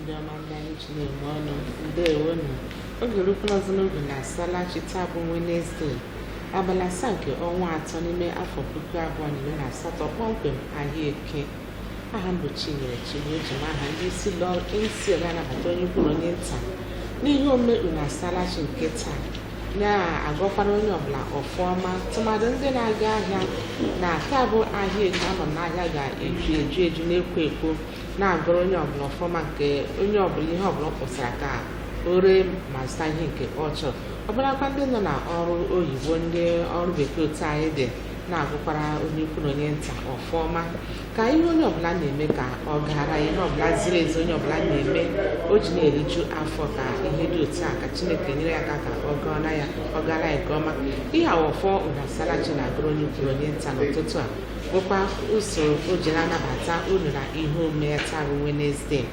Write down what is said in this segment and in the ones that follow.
ndị ọma ndị anyị ji na-eme ọnụ ndewo nụ oge erukwala ọzọ n'oge unu asalachi taa bụ wenezdee abalị asaa nke ọnwa atọ n'ime afọ puku abụọ na iri na asatọ kpọmkwem ahịa eke aha m bụ chinyere chigbu eji m aha ndị isi ụlọ isi ga-anabata onye ukwu na onye nta n'ihe omume unu asalachi nke taa na-agọkwara onye ọbụla ọfụma tụmadụ ndị na-aga ahịa na taa bụ ahịa eke ama m n'ahịa ga-eju eju eju na-ekwo ekwo na-agọrọ onye ọbụla ọfụma nke onye ọbụla ihe ọbụla ọ kpọsara ka o ree ma zụta ihe nke ọ chọrọ ọbụlakwa ndị nọ na ọrụ oyibo ndị ọrụ bekee otu anyị dị na-agọkwara onye ukwu na onye nta ọfụma ka ihe onye ọbụla na-eme ka ọ gara ihe ọbụla ziri ezi onye ọbụla na-eme o ji na-eriju afọ ka ihe dị otu a ka chineke nyere ya aka ka ọ gaara ya nke ọma ihe a wụ ọfọ unu asalachi na-agọrọ onye ukwu na onye nta n'ụtụtụ a bụkwa usoro o ji na-anabata unu na ihe omume ya taa bụ Wenezdee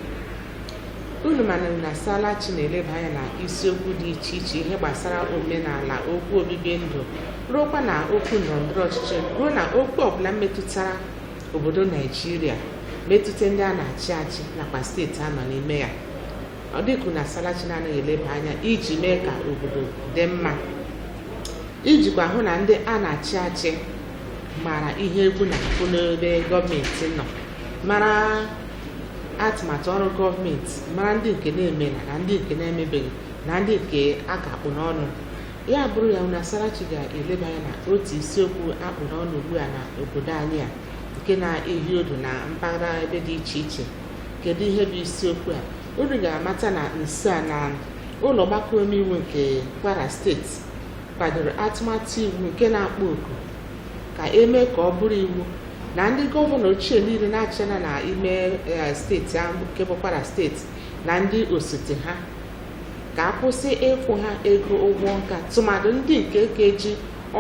unu ma na unu asalachi na-eleba anya na isiokwu dị iche iche ihe gbasara omenala okwu obibi ndụ ruokwa na okwu ndọrọndọrọ ọchịchị ruo na okwu ọbụla metụtara obodo naijiria metụta ndị a na-achị achị nakwa steeti a nọ n'ime ya ọ dị okwu unu asalachi na-anaghị eleba anya iji mee ka obodo dị mma ijikwa hụ na ndị a na-achị achị mara ihe egwu na-akụ n'ebe gọọmenti nọ mara atụmatụ ọrụ gọọmenti mara ndị nke na-emela na ndị nke na-emebeghị na ndị nke a ka akpụ n'ọnụ ya bụrụ ya unu asalachi ga-eleba anya na otu isiokwu akpụ n'ọnụ ugbu a na obodo anyị a nke na-ehi ụdụ na mpaghara ebe dị iche iche kedu ihe bụ isiokwu a unu ga-amata na nso a na ụlọ ọgbakọ omeiwu nke Kwara steeti kwadoro atụmatụ iwu nke na-akpọ oku ka eme ka ọ bụrụ iwu na ndị gọvanọ ochie niile na-achịna na ime eh, steeti ahụ nke bụ Kwara steeti na ndị osote ha ka a kwụsị ịkwụ ha ego ụgwọ nka tụmadụ ndị nke ka ji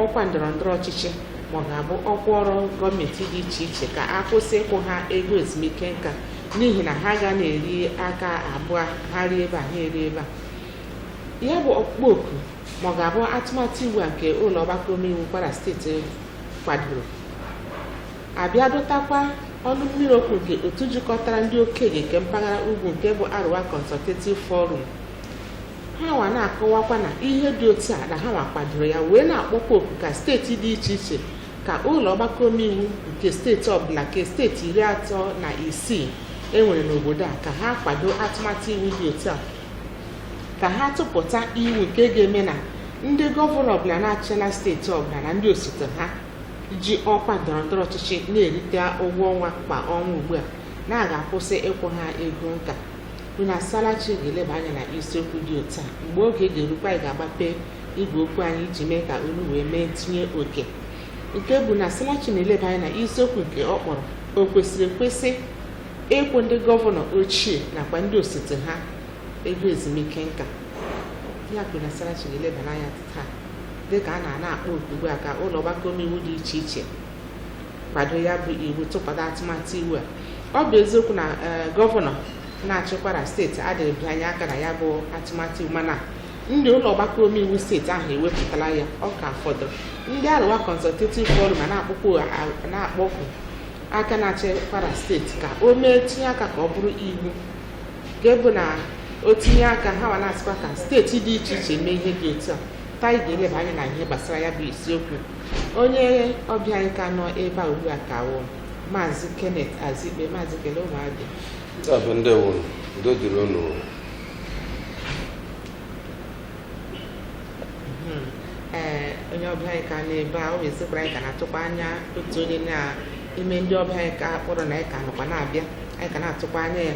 ọkwa ndọrọ ndọrọ ọchịchị ma ọ ga-abụ ọkwa ọrụ gọọmenti dị iche iche ka a kwụsị ịkwụ ha ego ezumike nka n'ihi na ha ga na-eri aka abụọ ha rie ebe a ha eri ebe a ya bụ ọkpụkpọ oku ma ọ ga-abụ atụmatụ iwu a nke ụlọ ọgbakọ omeiwu kwara steeti kwadoro abịa dọtakwa ọnụ mmiri okwu nke otu jikọtara ndị okenye nke mpaghara ugwu nke bụ Arewa Consultative Forum ha nwa na-akọwakwa na ihe dị otu a na ha nwa kwadoro ya wee na-akpọkwa oku ka steeti dị iche iche ka ụlọ ọgbakọ omeiwu nke steeti ọbụla nke steeti iri atọ na isii enwere n'obodo a ka ha kwado atụmatụ iwu dị otu a ka ha tụpụta iwu nke ga-eme na ndị gọvanọ ọbụla na-achịla steeti ọbụla na ndị osote ha ji ọkwa ndọrọ ndọrọ ọchịchị na-erite ụgwọ ọnwa kwa ọnwa ugbu a na a ga-akwụsị ịkwụ ha ego nka unu asalachi ga-eleba anya na isiokwu dị otu a mgbe oge ga-erukwa anyị ga-agbape igwe okwu anyị iji mee ka unu wee mee ntinye oke nke bụ unu asalachi na-eleba anya na isiokwu nke ọ kpọrọ o kwesịrị ekwesị ịkwụ ndị gọvanọ ochie nakwa ndị osote ha ego ezumike nka ya ka unu asalachi ga-elebara anya taa dịka a na-akpọ oku ugbu a ka ụlọ ọgbakọ omeiwu dị iche iche kwado ya bụ iwu tụpụta atụmatụ iwu a ọ bụ eziokwu na eh, gọvanọ na-achị Kwara steeti adịghị bịanye aka na ya bụ atụmatụ iwu mana ndị ụlọ ọgbakọ omeiwu steeti ahụ ewepụtala ya ọ ka fọdụrụ ndị Arewa Consultative Forum na-akpọku na-akpọku aka na-achị Kwara steeti ka o mee tinye aka ka ọ bụrụ iwu nke bụ na o tinye aka ha nwa na-asịkwa ka steeti dị iche iche mee ihe dị otu a taa anyị ga-eleba anya na ihe gbasara ya bụ isiokwu onye ọbịa anyị ka nọ ebe a ugbu a ka wụ maazị kenneth azikpe maazị kele ụmụ Abịa Ndị Abịa ndewo nụ udo dịrị unu Hmm. ee onye ọbịa anyị ka nọ ebe a ọ wụ eziokwu na anyị ka na-atụkwa anya otu onye n'ime ndị ọbịa anyị ka kpọrọ na anyị ka nọkwa na-abịa anyị ka na-atụkwa anya ya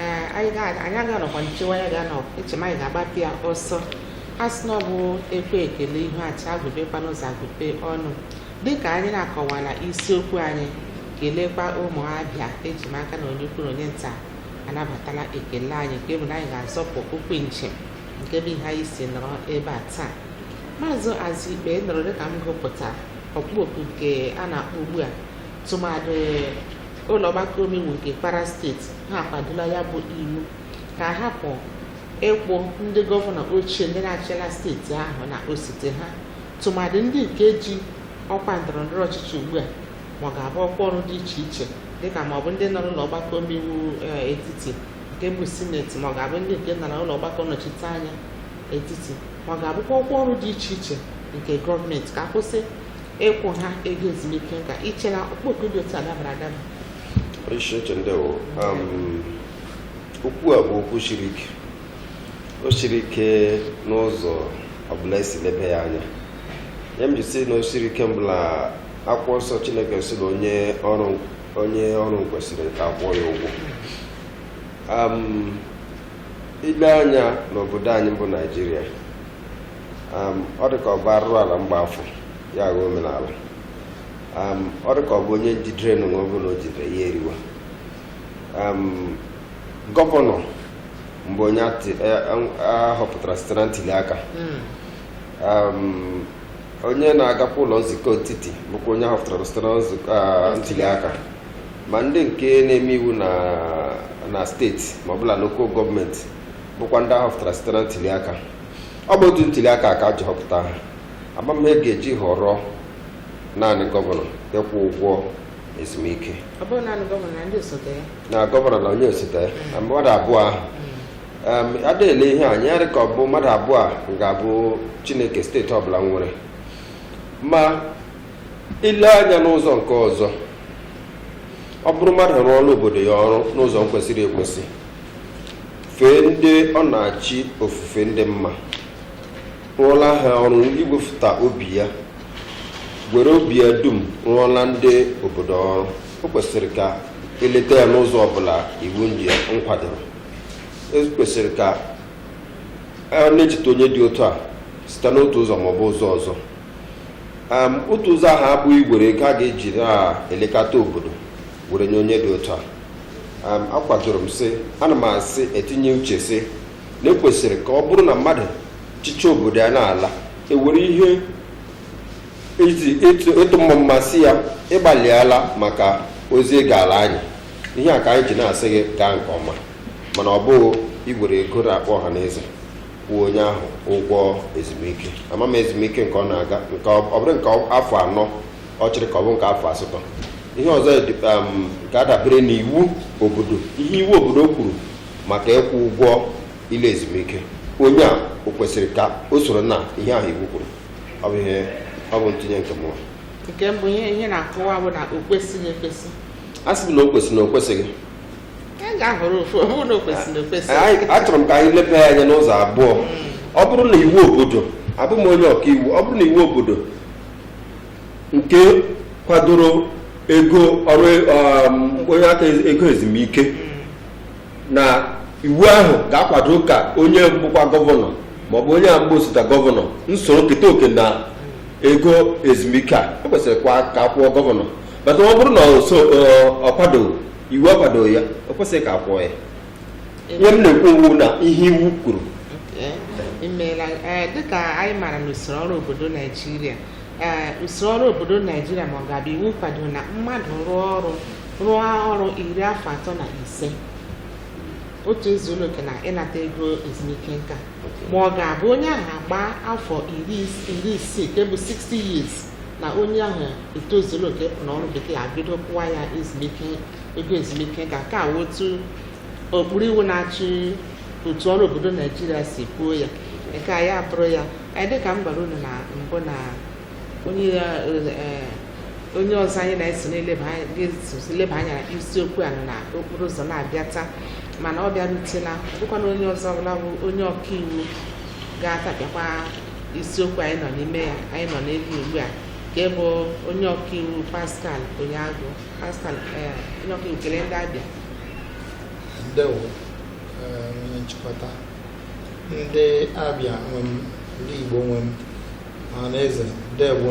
ee anyị ga anyị agaghị anọkwa nchewa ya ga nọ eche m anyị ga-agbapụ ya ọsọ a sị na ọ bụ ekwe ekele ihu acha agụpekwanụ ụzọ agụpe ọnụ dịka anyị na-akọwala isiokwu anyị kelekwa ụmụ Abịa eji m aka na onye ukwu na onye nta anabatala ekele anyị nke bụ na anyị ga-azọpụ ụkwụ njem nke bụ ihe anyị si nọrọ ebe a taa maazị Azikpe ị nụrụ dịka m gụpụta ọkpọ oku nke a na-akpọ ugbu a tụmadị ụlọ ọgbakọ omeiwu nke Kwara steeti ha akwadola ya bụ iwu ka a hapụ ịkwụ ndị gọvanọ ochie ndị na-achịla steeti ahụ na osote ha tụmadị ndị nke ji ọkwa ndọrọ ndọrọ ọchịchị ugbu a ma ọ ga-abụ ọkwa ọrụ dị iche iche dịka ma ọ bụ ndị nọ n'ụlọ ọgbakọ omeiwu etiti nke bụ sineti ma ọ ga-abụ ndị nke nọ na ụlọ ọgbakọ nnọchite anya etiti ma ọ ga-abụkwa ọkwa ọrụ dị iche iche nke gọọmenti ka a kwụsị ịkwụ ha ego ezumike nka i che na ọkpọ oku dị otu a dabara adaba isi oche ndewo um, okwu a bụ okwu siri ike o siri ike n'ụzọ ọbụla e si lebe ya anya ya m ji sị na o siri ike mbụ la akwụkwọ nsọ Chineke sị na onye ọrụ onye ọrụ kwesịrị ka akwụọ ya ụgwọ ile anya n'obodo anyị bụ naijiria ọ dị ka ọ bụ arụrụ ala mgba afọ ya aghọọ omenala ọ dị ka ọ bụ onye njidere anụ ọbụla o jidere ya eriwa gọvanọ mbụ onye ahọpụtara e, site na ntuli aka hmm. onye na-agakwa ụlọ nzukọ etiti bụkwa onye ahọpụtara site na nzukọ ah, ntuli aka ma ndị nke na-eme iwu na steeti ma ọ bụ na lokal gọọmenti bụkwa ndị ahọpụtara site na ntuli aka ọ bụ otu ntuli aka ka a ji họpụta ha ama m ihe a ga-eji họrọ naanị gọvanọ ịkwụ ụgwọ ezumike na gọvanọ na onye osote ya na mmadụ abụọ ahụ hmm. a da-ele ihe anya ọ dị ka ọ bụ mmadụ abụọ a ga-abụ chineke steeti ọbụla nwere ma ile anya n'ụzọ nke ọzọ ọ bụrụ mmadụ rụọla obodo ya ọrụ n'ụzọ kwesịrị ekwesị fee ndị ọ na-achị ofufe ndị mma rụọla ha ọrụ igwefụta obi ya were obi ya dum rụọla ndị obodo ọrụ o kwesịrị ka eleta ya n'ụzọ ọbụla iwu ndị nkwadoro e kwesịrị ka a na-echeta onye dị otu a site n'otu ụzọ ma ọ bụ ụzọ ọzọ Am, otu ụzọ ahụ abụghị igwere ego a ga-eji na-elekọta obodo were nye onye dị otu a Am, akwadoro m sị ana m asị etinye uche sị na ekwesịrị ka ọ bụrụ na mmadụ chịcha obodo ya na-ala ewere ihe iji ịtụ ịtụ mmamma sị ya ị gbalịala maka ozi ị gaala anyị ihe a ka anyị ji na-asị gị gaa nke ọma mana ọ bụghị igwere ego n'akpa ọha na eze kwụọ onye ahụ ụgwọ ezumike ama m ezumike nke ọ na-aga nke ọ ọ bụrụ nke afọ anọ ọ chịrị ka ọ bụ nke afọ asatọ ihe ọzọ dị- um, ga-adabere n'iwu obodo ihe iwu obodo kwuru maka ịkwụ ụgwọ ịla ezumike onye a o kwesịrị ka o soro na ihe ahụ iwu kwuru ọ bụ ihe ọ bụ ntụnye nke mụwa nke mbụ ihe ihe na-akọwa bụ na o kwesịghị ekwesị a sị m na o kwesịrị na o kwesịghị anyị ga-ahọrọ ofu ọ bụrụ na o kwesịrị na o kwesịghị Anyị- achọrọ m ka anyị leba ya anya n'ụzọ abụọ ọ bụrụ na iwu obodo abụ m onye ọka iwu ọ bụrụ na iwu obodo nke kwadoro ego ọrụ um, onye aka ego ezumike na iwu ahụ ga-akwado ka onye bụkwa gọvanọ maọbụ onye a mbụ osote gọvanọ nsoro keta oke na ego ezumike a o kwesịrị kwa ka akwụọ gọvanọ but ọ bụrụ na ọ kwado iwu akwado ya o kwesịrị ka a kwụọ ya ihe m na-ekwu wụ na ihe iwu kwuru imeela eh, dịka anyị maara na usoro ọrụ obodo naijiria eh, usoro ọrụ obodo naijiria ma ọ ga-abụ iwu kwado na mmadụ rụọ ọrụ rụọ ọrụ iri afọ atọ na ise o tozuola oke na ịnata ego ezumike nka ma ọ ga-abụ onye ahụ agbaa afọ iri isii nke bụ 60 years na onye ahụ etozuola oke na ọrụ bekee abido kwụwa ya ezumike ego ezumike nka ka otu okpuru iwu na-achị otu ọrụ obodo naijiria si kwuo ya nke a ya bụrụ ya dịka m gwara unu na mbụ na onye eh, onye ọzọ anyị na-eso na-eleba anya na isiokwu a nọ na okporo ụzọ na-abịa taa mana ọ bịarutela bụkwa na onye ọzọ ọbụla bụ onye ọkaiwu ga-atapịakwa isiokwu anyị nọ n'ime ya anyị nọ n'elu ugbu a nke bụ onye ọkaiwu Pascal Onyeagụ Pascal eh, onye ọkaiwu kele ndị abịa ndewo eh, onye nchịkọta ndị abịa nwe m ndị Igbo nwe m ọha na eze ndewo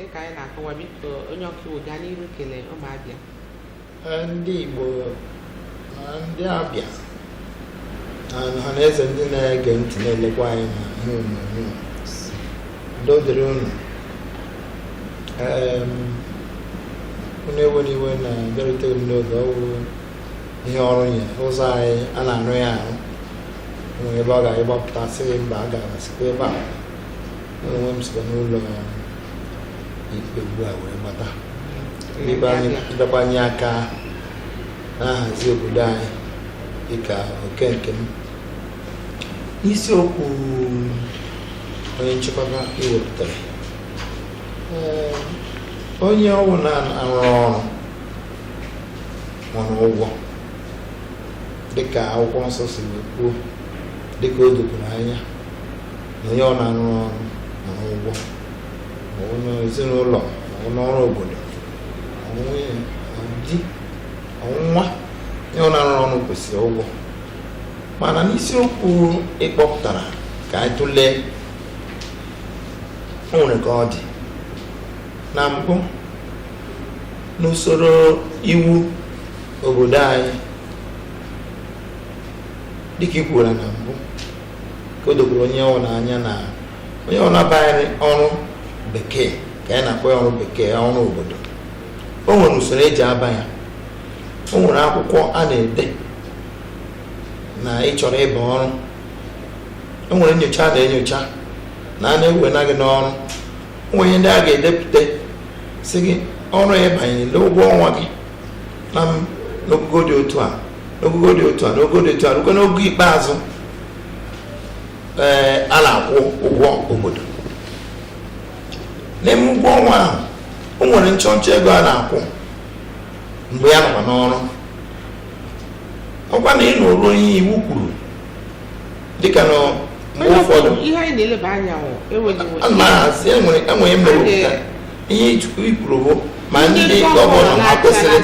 dịka anyị na-akọwa biko onye ọkaiwu gaa n'iru kele ụmụ Abịa ndị Igbo na ndị Abịa na ọha na eze ndị na-ege ntị na-elekwa anyị na ihe onyonyo udo dịrị unu unu ewena iwe na abịaruteghị m n'oge ọ wụ ihe ọrụ nye ụzọ anyị a na-arụ ya ahụ nwere ebe ị ga ịgbapụta sị gị mba agana sikwa ebe a Mụ onwe m sikwa n'ụlọ ikpe ugbu a wee gbata ịbịakwanye aka na-ahazi obodo anyị dịka oke nke m isiokwu onye nchịkọta i wepụtara Ee, onye ọwụna na-arụ ọrụ nwere ụgwọ dịka akwụkwọ nsọ si kwuo dịka o dokwuru anya na onye ọ na-arụ ọrụ nwere ụgwọ ma ọ bụ n'ezinụlọ ma ọ wụ n'ọrụ obodo ụdị ọwụna onye ọ na-arụ ọrụ kwesịrị ụgwọ mana n'isiokwu ị kpọpụtara ka anyị tụlee o nwere ka ọ dị na mbụ n'usoro iwu obodo anyị dịka i kwuru na mbụ ka o dokwuru onye ọwụla anya na onye ọwụla abaghị ọrụ bekee ka anyị na-akpọ ya ọrụ bekee ọrụ obodo o nwere usoro eji aba ya o nwere akwụkwọ a na-ede na ị chọrọ ịba ọrụ o nwere nyocha a na-enyocha na a na-ewe na gị n'ọrụ o nwere ihe ndị a ga-edepụta sị gị ọrụ ya banyere n'ụgwọ ọnwa gị na m n'ogogo dị otu a n'ogogo dị otu a n'ogogo dị otu a rukwa n'ogo ikpeazụ ee a na-akwụ ụgwọ obodo n'ime ụgwọ ọnwa ahụ o nwere nchọnchọ ego a na-akwụ mgbe ya nọkwa n'ọrụ ọ kwa na ị nụrụ onye iwu kwuru dịka na mgbe ụfọdụ ihe anyị na-eleba anya maazị enwere enwere mmepụta ihe i kwuru bụ ma ndị gọvanọ ha kwesịrị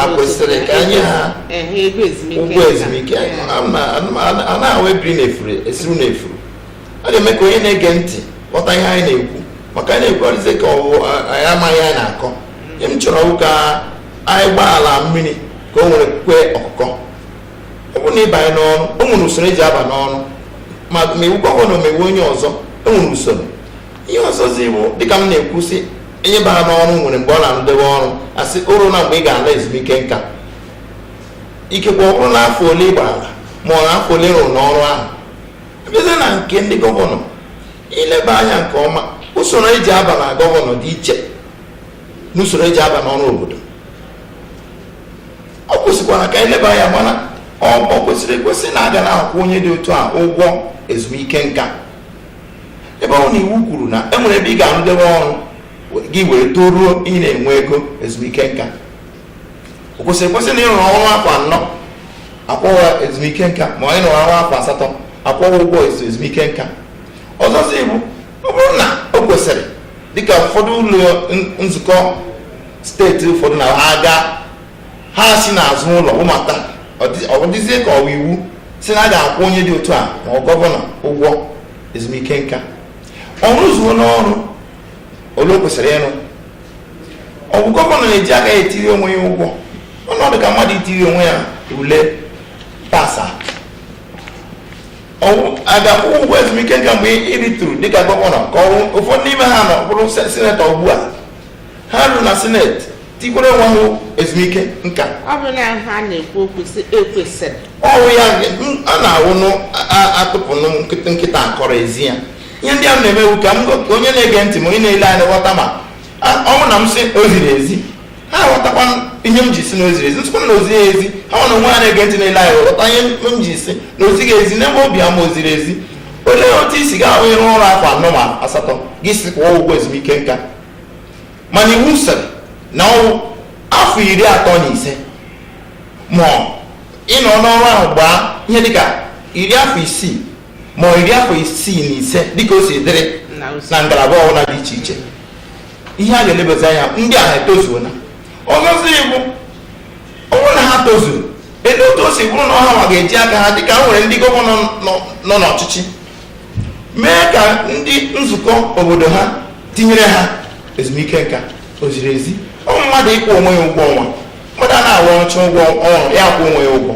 ekwesị ka a nye ha ụgwọ ezumike anaghị ahụ ebiri na efuru esiru na efuru a ga-eme ka onye na-ege ntị ghọta ihe anyị na-ekwu maka anyị na-ekwukarịsị ka ọwụ anyị amaghị anyị na-akọ ihe m chọrọ wụ ka anyị gbaa ala mmiri ka o nwere kwe ọkụkọ ọ bụrụ na ị banye n'ọrụ o nwere usoro eji aba n'ọrụ ma ma ị wụ gọvanọ ma ị wụ onye ọzọ e nwere usoro ihe ọzọzi bụ dịka m na-ekwu sị onye bara n'ọrụ nwere mgbe ọ na-arụdebe ọrụ a sị o runa mgbe ị ga-ala ezumike nka ikekwe ọ bụrụ na afọ ole ị gbara ma ọ na afọ ole ị rụrụ n'ọrụ ahụ a bịazie na nke ndị gọvanọ i leba anya nke ọma usoro eji aba na gọvanọ dị iche n'usoro eji aba n'ọrụ obodo o kwesịkwara ka e leba ya mana o kwesịrị ekwesị na a ga na-akwụ onye dị otu a ụgwọ ezumike nka ebe ọ wụ na iwu kwuru na e nwere ebe ị ga-arụdebe ọrụ gị wee toruo ị na-enwe ego ezumike nka o kwesịrị ekwesị na ị rụrụ ọrụ afọ anọ a kwụwa ezumike nka ma ọ ị rụrụ ọrụ afọ asatọ a kwụwa ụgwọ ezumike nka ọzọzi bụ ọ bụrụ na o kwesịrị dịka ụfọdụ ụlọ nzukọ steeti ụfọdụ na ha aga ha si n'azụ ụlọ wụbata ọ dịzie ka ọ wụ iwu sị na a ga-akwụ onye dị otu a ma ọ gọvanọ ụgwọ ezumike nka ọ rụzuo n'ọrụ ole o kwesịrị ịrụ ọ bụ gọvanọ na-eji aka ya etiri onwe ya ụgwọ ọnọdụ ka mmadụ itiri onwe ya ule pasa a ga-akwụ ụgwọ ezumike nka mgbe ị rịturu dịka gọvanọ ka ụfọdụ n'ime ha nọ bụrụ sinetọ ugbu a ha ruo na sineti tikwere onwe ha ezumike nka ọ bụ na ha na-ekwu okwu sị e kwesịrị ọ wụ ya m- a na-awụ nụ a- a- atụpụ nụ nkịta nkịta akọrọ e zi ya ihe ndị a m na-eme wụ ka m go- ka onye na-ege ntị ma onye na-ele anya ghọta ma a- ọ bụ na m sị o ziri ezi ha ghọtakwa ihe m ji sị na o ziri ezi m sịkwa na o zighị ezi ha nwa na onwe ha na-ege ntị na-ele anya ghọta ihe m ji sị na o zighị ezi n'ebe obi ama o ziri ezi olee otu i si ga-ahụ ịrụ ọrụ afọ anọ ma asatọ gị sị kwụọ ụgwọ ezumike nka mana iwu sịrị na ọ wụ afọ iri atọ na ise ma ị nọ n'ọrụ ahụ gbaa ihe dịka iri afọ isii ma iri afọ isii na ise dịka o si dịrị na ngalaba ọbụla dị iche iche ihe a ga-elebezi anya ndị ahụ etozuola ọzọzi bụ ọ bụrụ na ha tozuru elee otu o si bụrụ na ọ ha nwa ga-eji aka ha dịka e nwere ndị gọvanọ nọ n'ọchịchị mee ka ndị nzukọ obodo ha tinyere ha ezumike nka o ziri ezi ọ mmadụ ịkwụ onwe ya ụgwọ ọnwa mmadụ a na-arụ ọchụ ụgwọ ọrụ ya kwụ onwe ya ụgwọ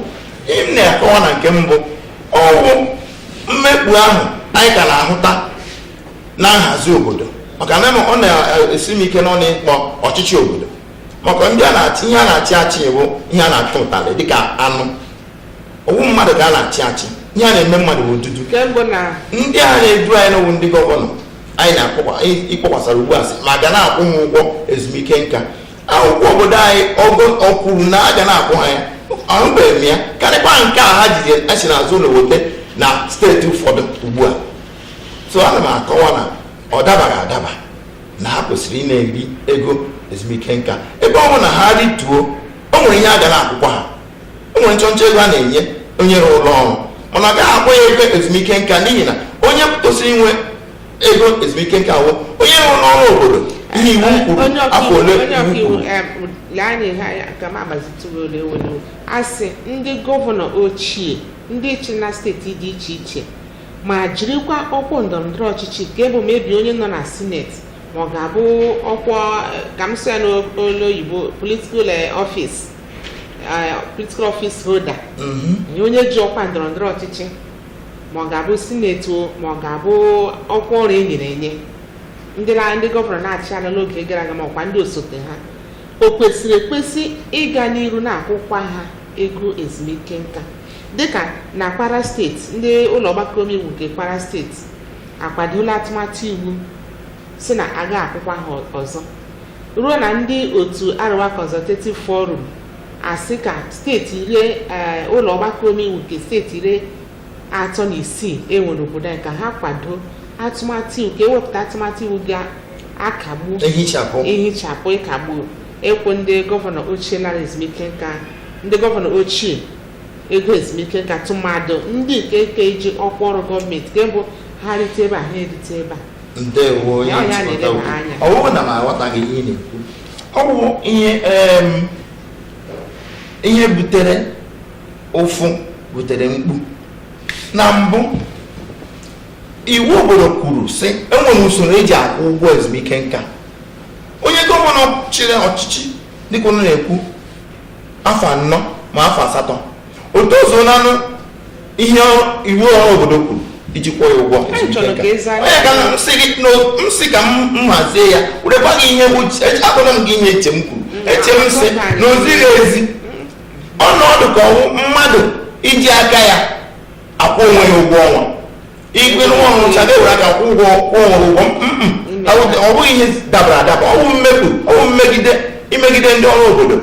ihe m na-akọwa na nke mbụ ọ wụ mmekpa ahụ anyị ka na-ahụta na nhazi obodo maka na ọ na-esi m ike n'ọnụ ịkpọ ọchịchị obodo maka ndị a na-achị ihe a na-achị achị bụ ihe a na-achụ ụtalị dịka anụ ọ wụ mmadụ ka a na-achị achị ihe a na-eme mmadụ bụ odudu ndị a na-edu anyị na ọ wụ ndị gọvanọ anyị na-akpọkwasara ugbu a sị ma a ga na-akwụ ha ụgwọ ezumike nka akwụkwọ obodo anyị o kwuru na a ga na-akwụ ha ya ahụbeghị m ya karịkwa nke a ha jide esi n'azụ ụlọ wote na steeti ụfọdụ ugbu a so ana m akọwa na ọ dabaghị adaba na ha kwesịrị ịna-eri ego ezumike nka ebe ọ bụ na ha rituo o nwere ihe a ga na-akwụkwa ha o nwere nchọnchọ ego a na-enye onye rụrụ ụlọ ọrụ mana a gaghị akpọ ya ego ezumike nka n'ihi na onye kwesịrị inwe ego ezumike nka wụ onye rụrụ n'ọrụ obodo ihe iwu kwuru onye afọ ọkaiwu ole onye iwu ọkaiwu kwuru em, lee anya ihe anya ka m gbazitụrụ olu were a sị ndị gọvanọ ochie ndị chị na steeti dị iche iche ma jirikwa ọkwa ndọrọndọrọ ọchịchị nke bụ maybe onye nọ na sineti ma ọ ga-abụ ọkwa eh, ka m sị ya n'olu oyibo political office political office holder eh onye ji ọkwa ndọrọ ndọrọ ọchịchị ma ọ ga-abụ sineti o ma ọ ga-abụ ọkwa ọrụ e nyere enye ndị na- ndị gọvanọ na-achị ala n'oge gara aga ma ọkwa ndị osote ha o kwesịrị ekwesị ịga n'iru na-akwụkwa ha ego ezumike nka dịka na kwara steeti ndị ụlọ ọgbakọ omeiwu nke kwara steeti akwadola atụmatụ iwu sị na a gaghị akwụkwa ha ọzọ ruo na ndị otu Arewa Consultative Forum asị ka steeti iri eh, ụlọ ọgbakọ omeiwu nke steeti iri atọ na isii e nwere obodo anyị ka ha kwado atụmatụ iwu ka ewepụta atụmatụ iwu ga-akagbu ehichapụ ihichapụ ịkagbu ịkwụ ndị gọvanọ ochie lara ezumike nka ndị gọvanọ ochie ego ezumike nka tụmadụ ndị nke nke ji ọkwa ọrụ gọọmenti nke bụ ha rite ebe a ha erite ebe a ndewo onye Ya ọ ya nchịkọta na-ele m okwu. anya. ọ bụghị na m aghọtaghị ihe ị na-ekwu ọ bụ ihe em, ihe butere ụfụ butere mkpu na mbụ iwu obodo kwuru sị enwere usoro eji akwụ ụgwọ ezumike nka onye gọvanọ chịrị ọchịchị dịka unu na-ekwu afọ anọ ma afọ asatọ o tozuolanụ ihe iwu ọrụ obodo kwuru iji kwụọ ya ụgwọ Anyị chọrọ ka ị zaa ya. onye ka m sị gị na m sị ka m hazie ya were gwa gị ihe uche eche- agwara m gị ihe eche m kwuru eche m sị na o zighị ezi ọ na-adị ka ọ wụ mmadụ iji aka ya akwụ onwe ya ụgwọ ọnwa ị gwa nwa ọ rụchaa ga-ewere aka kwụ ụgwọ kwụọ onwe ụgwọ Mm, mm. Ọ bụ- ọ bụghị ihe dabara adaba ọ bụ mmegbu ọ bụ mmegide imegide ndị ọrụ obodo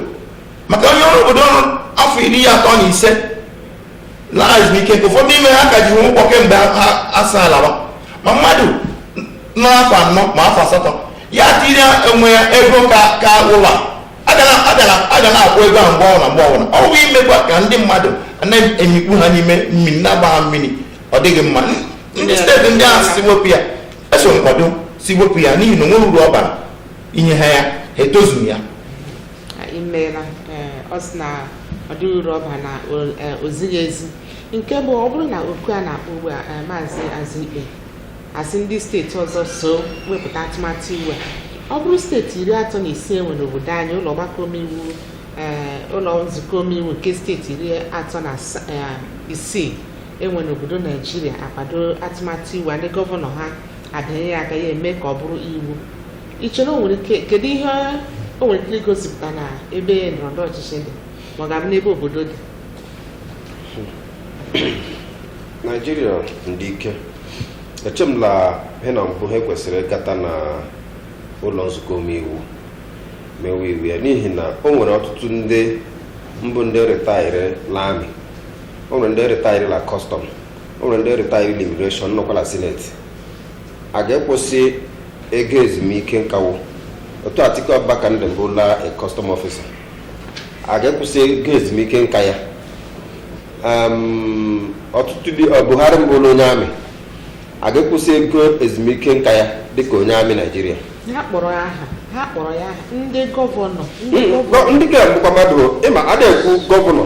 maka onye ọrụ obodo rụrụ afọ iri atọ na ise laa ezumike nka ụfọdụ ime ha ka ji ha ụgwọ kemgbe ha asa alawa ma mmadụ nọ afọ anọ ma afọ asatọ ya tinye onwe ya ego ka ka ụlọ a ga na- a ga na- a ga na-akwụ ego ahụ mgbe ọbụla mgbe ọbụla ọ bụ imekwa ka ndị mmadụ na-emikpu ha n'ime mmiri na-agba ha mmiri ọ dịghị mma ndị steeti ndị ahụ sị wepụ ya eso m kwado sị wepụ ya n'ihi na o nweghị uru ọ bara inye ha ya ha etozughị ya imeela ọ sị na ọ dịghị uru ọ ba na o zighị ezi nke bụ ọ bụrụ na oku a na-akpọ ugbu a maazị Ezikpe asị ndị steeti ọzọ so wepụta atụmatụ iwu a ọ bụrụ steeti iri atọ na isii enwere n'obodo anyị ụlọ ọgbakọ omeiwu ụlọ nzukọ omeiwu nke steeti iri atọ na isii enwere n'obodo naijiria akwado atụmatụ iwu a ndị gọvanọ ha abịanye ya aka ya eme ka ọ bụrụ iwu ị chere o nwere ike kedu ihe o nwere ike igosipụta na ebe ndọrọndọrọ ọchịchị dị ma ọ ga-abụ n'ebe obodo dị naijiria ndị ike eche m la ihe na mbụ ha kwesịrị ịgata na ụlọ nzukọ omeiwu mewe iwu ya n'ihi na o nwere ọtụtụ ndị bụ ndị rịtaịrị la amị o nwere ndị rịtaịrị la kọstọm o nwere ndị rịtaịrị la imigreshọn nọkwa la sineti a ga-ekwụsị ego ezumike nka wo otu Atiku Abubakar nde mbụ la custom officer a ga-ekwụsị ego ezumike nka ya ọtụtụ dị Buhari mbụ la onye amị a ga-ekwụsị ego ezumike nka ya dịka onye amị Naijiria ha kpọrọ ya aha ha kpọrọ ya aha ndị gọvanọ ndị gọvanọ ndị ga-abụkwa mmadụ ịma a na-ekwu gọvanọ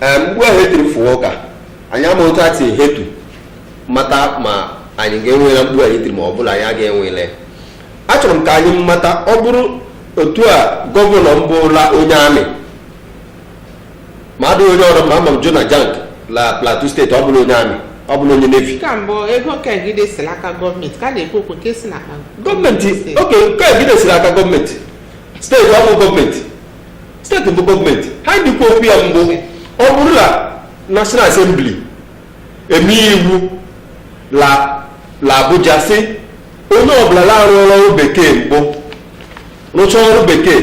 mgbe ahụ etiri fụwa ụka anyị ama otu ati hetu mata ma anyị ga-enwela mkpu anyị tiri ma ọ bụ la anyị aga enwele achọrọ m ka anyị mata ọ bụrụ otu a gọvanọ mbụ la onye amị ma adịghị onye ọrụ ma ama m Jonah Jang la Plateau steeti ọ bụla onye amị ọ bụla onye nevi ka mbụ ego kegide si n'aka gọọmenti ka a na-ekwu okwu nke si n'aka gọọmenti oke kegide siri aka gọọmenti steeti ọ bụ gọọmenti steeti bụ gọọmenti ha dịkwa okwu ya mbụ ọ bụrụ na national assembly eme iwu la Abuja sị onye ọbụla na-arụọla ọrụ bekee mbụ rụchaa ọrụ bekee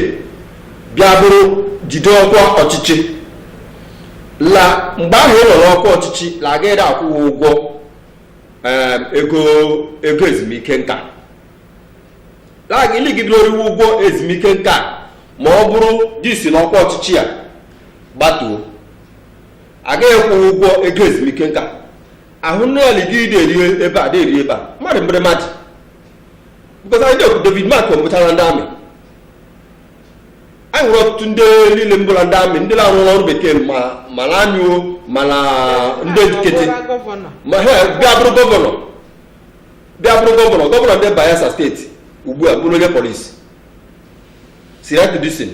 bịa bụrụ jide ọkwa ọchịchị la mgbe ahụ ị nọ n'ọkwa ọchịchị la agaghị akwụ gị ụgwọ em, ego ego ezumike nka la gị ligide eriwe ụgwọ ezumike nka ma ọ bụrụ di si n'ọkwa ọchịchị ya gbatuo a ga-akwụ gị ụgwọ ego ezumike nka ahụ nne ya ligide eri ebe a na-eri ebe a mmadụ mgbere mmadụ because anyị na-ekwu David Mark ọ bụchara ndị amị anyị nwere ọtụtụ ndị niile mbụla ndị amị ndị na-arụ ọrụ bekee ma na amị wo ma na ndị nkịtị ma ha bịa bụrụ gọvanọ bịa bụrụ gọvanọ gọvanọ ndị Bayelsa steeti ugbu a bụrụ onye polisi Seriake Dickson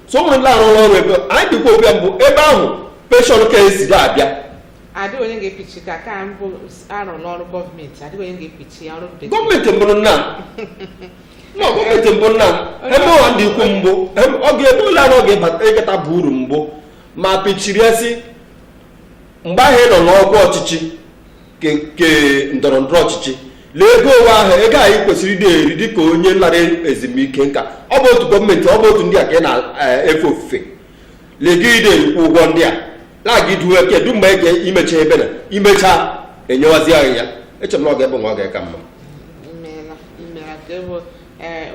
so enwere ndị arụrụ ọrụ ebe anyị dịkwa obi mbụ ebe ahụ penshọn ka esi ga-abịa adịghị onye ga-epichi ka ka mbụ arụ n'ọrụ gọọmenti adịghị onye ga-epichi ọrụ bekee gọọmenti mbụrụ nna na gọọmenti mbụ nna ebe ụwa ndị ikwu mbụ ọ ga-ebe ụlọ arụ ọ ga-eketa bụ uru mbụ ma pichiri esi mgbe ahụ ị nọ n'ọkwa ọchịchị nke ndọrọ ndọrọ ọchịchị lee ego ọnwa ahụ ego anyị kwesịrị ịdị eri dịka onye lara ezumike nka ọ bụ otu gọọmenti ọ bụ otu ndị a ka ị na-efe ofufe ligide erikwa ụgwọ ndị a na-aga iduwe kedu mgbe ege imecha ebe na imecha enyewazi anyị ya echere m na ọ ga-ebe nwa ọ ga-eka mma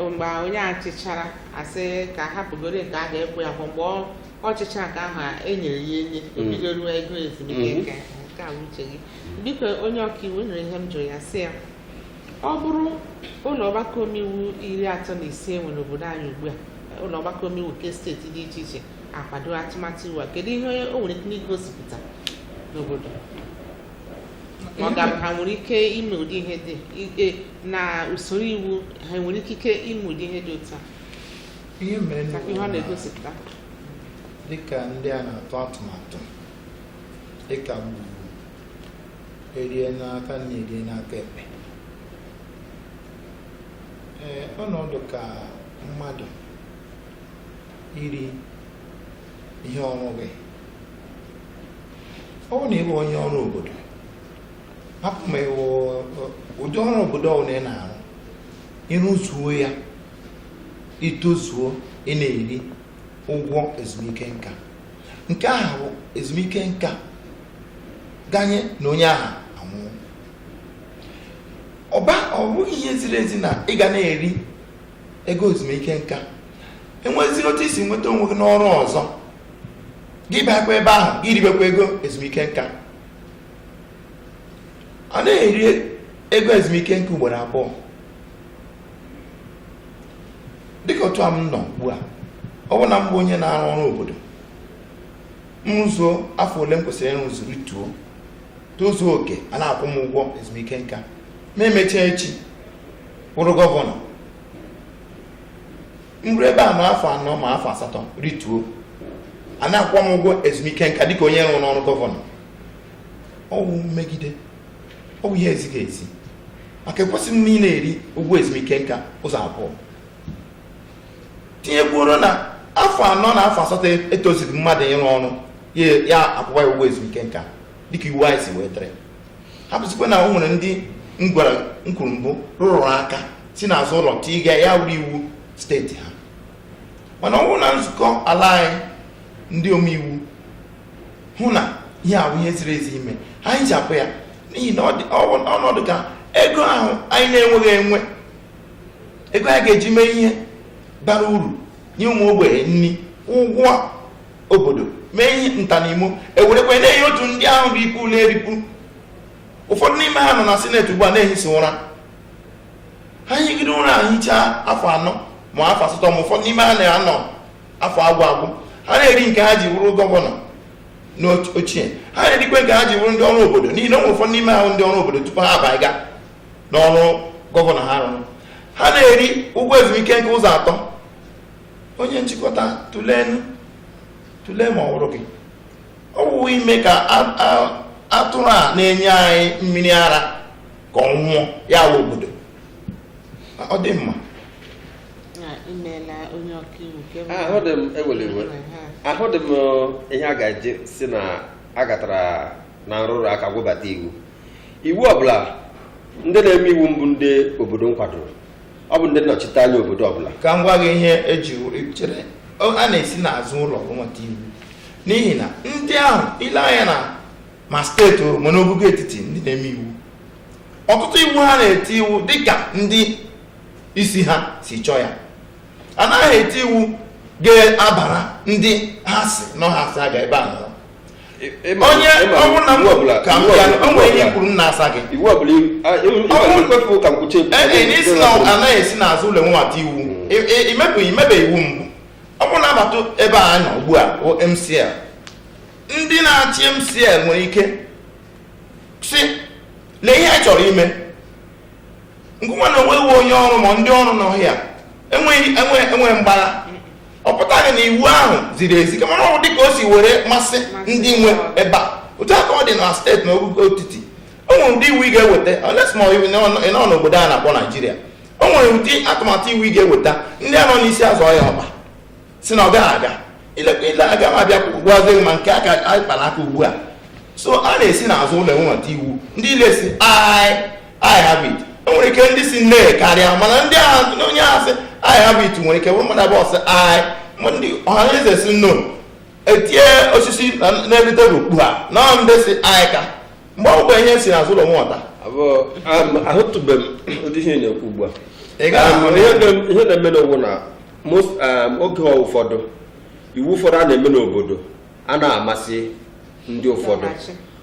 mgbe onye achịchara asị ka hapụgoro nke a ga-ekwe ya mgbe ọ chịchaa aka ahụ a enyere ya enye o bido ruo ego ezumike Mhm. nka nke a bụ uche gị biko onye ọkaiwu nwere ihe m jụrụ ya sị ya ọ bụrụ ụlọ ọgbakọ omeiwu iri atọ na isii e nwere n'obodo anyị ugbu a ụlọ ọgbakọ omeiwu nke steeti dị iche iche akwado atụmatụ iwu a kedu ihe o nwere ike igosipụta n'obodo ma ọ ga-abụ ha nwere ike ime ụdị ihe dị i- e, na usoro iwu ha nwere ikike ime ụdị ihe dị otu a ihe mere na ihe ọ na-egosipụta dịka ndị a na-atụ atụmatụ dịka m kwuru erie n'aka nri erie n'aka ekpe ee ọnọdụ ka mmadụ iri ihe ọ rụghị ọ bụ na ị bụ onye ọrụ obodo hapụ ma ịwụ ụdị ọrụ obodo ọbụla ị na-arụ ị rụzuo ya i tozuo ị na-eri ụgwọ ezumike nka nke aha bụ ezumike nka ganye na onye aha anwụọ ma ọ bụghị ihe ziri ezi na ị ga na-eri ego ezumike nka e nwezie otu i si nweta onwe gị n'ọrụ ọzọ gị bakwa ebe ahụ gị ribekwa ego ezumike nka a na-eri ego ezumike nka ugboro abụọ dịka otu a m nọ ugbu a ọ bụ na m bụ onye na-arụ ọrụ obodo m rụzuo afọ ole m kwesịrị ịrụzu rịtuo tozuo oke a na-akwụ m ụgwọ ezumike nka m emechaa echi bụrụ gọvanọ m rụọ ebe a ma afọ anọ ma afọ asatọ rịtuo a na-akwụ m ụgwọ ezumike nka dịka onye rụrụ n'ọrụ gọvanọ ọ wụ mmegide ọ bụ ihe ezighị ezi maka ekwesịghị m ịna-eri ụgwọ ezumike nka ụzọ abụọ tinyekwuoro na afọ anọ na afọ asatọ etozighị mmadụ ịrụ ọrụ ya akwụwa ya ụgwọ ezumike nka dịka iwu anyị si wee dịrị hapụzikwa na o nwere ndị m kwuru mbụ rụrụ aka si n'azụ ụlọ tiga ya wụrụ iwu steeti ha mana ọ bụrụ na nzukọ ala anyị ndị omeiwu hụ na ihe a awụghị ihe ziri ezi ime ha ehichapụ ya n'ihi na ọnọdụ ka ego ahụ anyị na-enweghị enwe ego anyị ga-eji mee ihe bara uru nye ụmụ ogbenye nri ụgwọ obodo mee ihe ntanimo ewerekwa na-enye otu ndị ahụ rikwu na-erikwu ụfọdụ n'ime ha nọ na sineti ugbu a na-ehisi ụra ha higide ụra ahụ hichaa afọ anọ ma afọ asatọ ma ụfọdụ n'ime ha na-anọ afọ agwụ agwụ ha na-eri nke ha ji bụrụ gọvanọ n'ochie ha na-erikwe nke ha ji bụrụ ndị ọrụ obodo n'ihi na o nwere ụfọdụ n'ime ha wụ ndị ọrụ obodo tupu ha abaga n'ọrụ gọvanọ ha rụrụ ha na-eri ụgwọ ezumike nka ụzọ atọ onye nchịkọta tụleenụ tụlee ma ọ wụrụ gị ọ wụghị ime ka atụrụ a na-enye anyị mmiri ara ka ọ nwụọ ya wụ obodo ọ dị mma ahụdị m ihe a ga-eji sị na a gatara na nrụrụ aka gwebata iwu iwu ọbụla ndị na-eme iwu mbụ ndị obodo nkwadoro ọ bụ ndị nnọchite anya obodo ọbụla ka m gwa gị ihe eji chere a na-esi n'azụ ụlọ nweta iwu n'ihi na ndị ahụ i lee anya na ma steeti ma n'ogogo etiti ndị na-eme iwu ọtụtụ iwu ha na-eti wụ dịka ndị isi ha si chọọ ya a naghị eti iwu ga-abara ndị ha si nọ ha si aga ebe a nọ onye ọ wụrụ na mgbe ọbụla ka m bịa o nwere ihe i kwuru m na-asa gị iwu ọbụla ikwefu ka m kwuchi isi na anaghị esi n'azụ ụlọ webata iwu imebeghị imebe iwu mbụ ọ wụrụ na a bata ebe a nọ ugbu a MCL ndị na-achị MCL nwere ike sị lee ihe anyị chọrọ ime ngụnwa na o nweghị onye ọrụ ma ndị ọrụ nọ ya enweghị enweghị enweghị mgbagha ọ pụtaghị na iwu ahụ ziri ezi kama na ọ bụ dịka o si were masị ndị nwe ebe a otu aka ọ dị na steeti na ogogo etiti o nwere ụdị iwu ị ga-eweta unless ma iwu ị nọ n'obodo a na-akpọ naijiria o nwere ụdị atụmatụ iwu ị ga-eweta ndị a nọ n'isi azọ ya ọkpa sị na ọ gaghị aga ile aga m abịa gwazie ma nke aka anyị kpara aka ugbu a so a na-esi n'azụ ụlọ enweta iwu ndị ile sị aye aye have it e nwere ike ndị sị nay karịa mana ndị ahụ onye ahụ sị aye have it nwere ike bụrụ mmadụ abụọ sị aye ndị ọhaneze sị no etie osisi n'elu tebụl kpu ha na ndị sị aye ka mgbe ọ bụla ihe si n'azụ ụlọ nweta ahụtụbeghị m ụdị ihe ị na-ekwu ugbu a ihe na-emenụ wụ na Um, oge ụfọdụ iwu ụfọdụ a na-eme n'obodo a na-amasị ndị ụfọdụ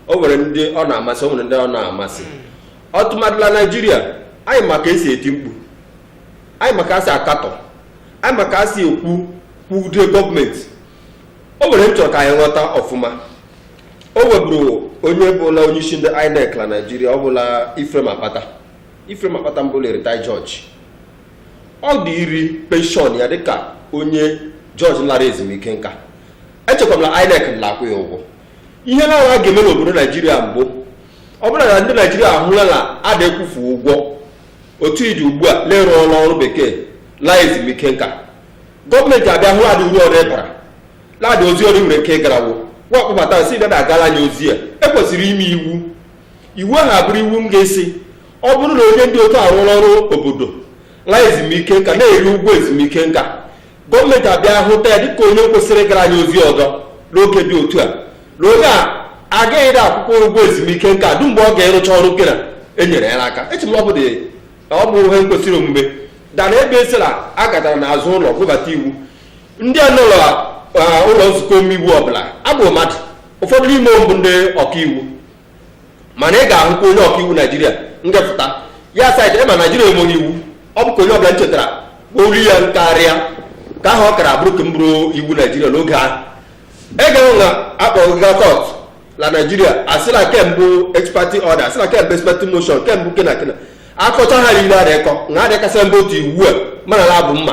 o nwere ndị ọ na-amasị o nwere ndị ọ na-amasị hmm. tụmadị la naijiria anyị ma ka e si eti mkpu anyị ma ka e si akatọ anyị ma ka e si ekwu kwude gọọmenti o nwere ihe m chọ ka anyị ghọta ọfụma o nweburu onye bụla onye isi ndị INEC na naijiria ọ bụla Ephraim Akpata Ephraim Akpata mbụla retired judge ọ dị iri penshọn ya dịka onye jọji lara ezumike nka echekwa m na INEC na-akwụ ya ụgwọ ihe na a ga-eme n'obodo naijiria mbụ ọ bụrụ na ndị naijiria ahụla na a na-akwụfu ụgwọ otu i ji ugbu a na ị rụọla ọrụ bekee laa ezumike nka gọọmenti abịa hụ na adị uru ọzọ ị bara na adị ozi ọzọ i nwere ike ịgara wo wa akpọbata sị bịa na-agara anyị ozi a ekwesịrị ime iwu iwu ahụ abụrụ iwu ga-asị ọ bụrụ na onye dị otu a arụọla ọrụ obodo laa ezumike nka na-eri ụgwọ ezumike nka gọọmenti abịa hụta ya dịka onye kwesịrị gara anyị ozi ọzọ n'oge dị otu a na onye a agaghị dị akwụkwa ụgwọ ezumike nka ruo mgbe ọ ga-arụcha ọrụ kena enyere ya n'aka eche m na ọ bụ dị ọ bụ ihe kwesịrị omume dana ebe esila a gatara n'azụ ụlọ bubata iwu ndị a nọ na ah, ụlọ nzukọ omeiwu ọbụla abụ mmadụ ụfọdụ n'ime mbụ ndị ọkaiwu mana ị ga-ahụkwa onye ọka iwu naijiria nga-apụta ya asị gị ị ma naijiria enweghị iwu ọ bụ ka onye ọbụla nchetara olu ya karịa ka ahụ ọ kara abụrụ ka m bụrụ iwu naijiria n'oge ahụ egeghị na akpọga kọt na naijiria asị la ke mbụ ex parte order asị la ke mbụ ex parte motion ke mbụ kena kena akọcha ha niile adịkọ na adịkasị mba otu iwu a mana na abụ mma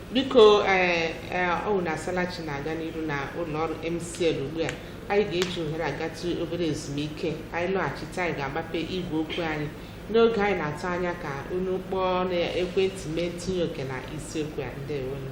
biko eh, eh, ọ na asalachi na-aga n'iru na ụlọ ọrụ MCL ugbu a anyị ga-eji ohere agatụ obere ezumike anyị lọghachite anyị ga-agbape igwe okwu anyị n'oge anyị na-atụ anya ka unu kpọọ na ekwentị mee ntinye oke na isiokwu a ndewonu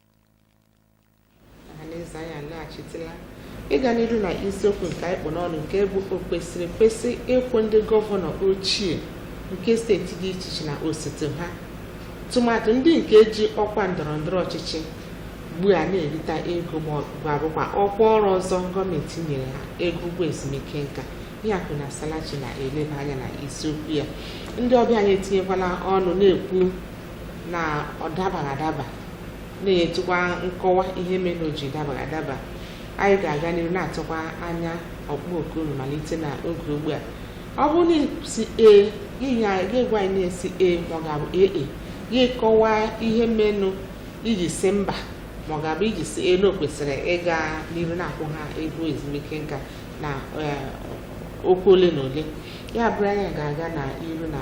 ọhaneze anyị alọghachitela ịga n'ihu na isiokwu nke anyị kpụ n'ọnụ nke bụ o kwesịrị ekwesị ịkwụ ndị gọvanọ ochie nke steeti dị iche iche na osote ha tụmadị ndị nke ji ọkwa ndọrọ ndọrọ ọchịchị ugbu a na-erita ego ma ọ bụ abụkwa ọkwa ọrụ ọzọ gọọmenti nyere ha ego ụgwọ ezumike nka ihe akụ na asalachi na-eleba anya na isiokwu ya ndị ọbịa anyị etinyekwala ọnụ na-ekwu na ọ dabaghị adaba na-enyetụkwa nkọwa ihe mere na o ji dabaghị adaba anyị ga-aga n'ihu na-atụkwa anya ọkpọ oku unu malite na oge ugbu a ọ bụrụ na ị sị ee gị gwa anyị na ị sị ee ma ọ ga-abụ ee e gị kọwaa ihe menụ i ji sị mba ma ọ ga-abụ i ji sị ee na o kwesịrị ịga n'ihu na-akwụ ha ego ezumike nka na eh, okwu ole na ole ya bụrụ anyị ga-aga na iru na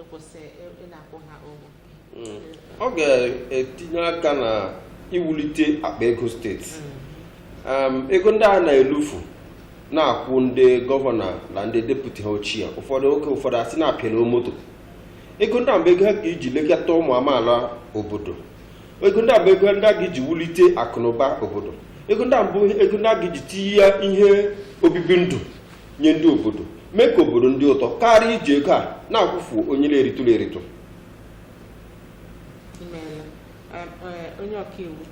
ịkwụsị ị na-akwụ ha ụgwọ mm. ọ ga-etinye aka na iwulite akpa ego steeti mm. ego ndị a na-elufu na-akwụ ndị gọvanọ na ndị deputi ha ochie ụfọdụ oge ụfọdụ asị na-apịala moto ego ndị mbụ ego a ga iji lekọta ụmụ amaala obodo ego ndị mbụ ego ndị a ga-eji wulite akụnụba obodo ego ndị mbụ ego ndị a ga-eji tinye ihe obibi ndụ nye ndị obodo mee ka obodo dị ụtọ karịa iji ego a na-akwụfu onye na-eritụrụ eritụ imeela Em, eh, onye ọkaiwu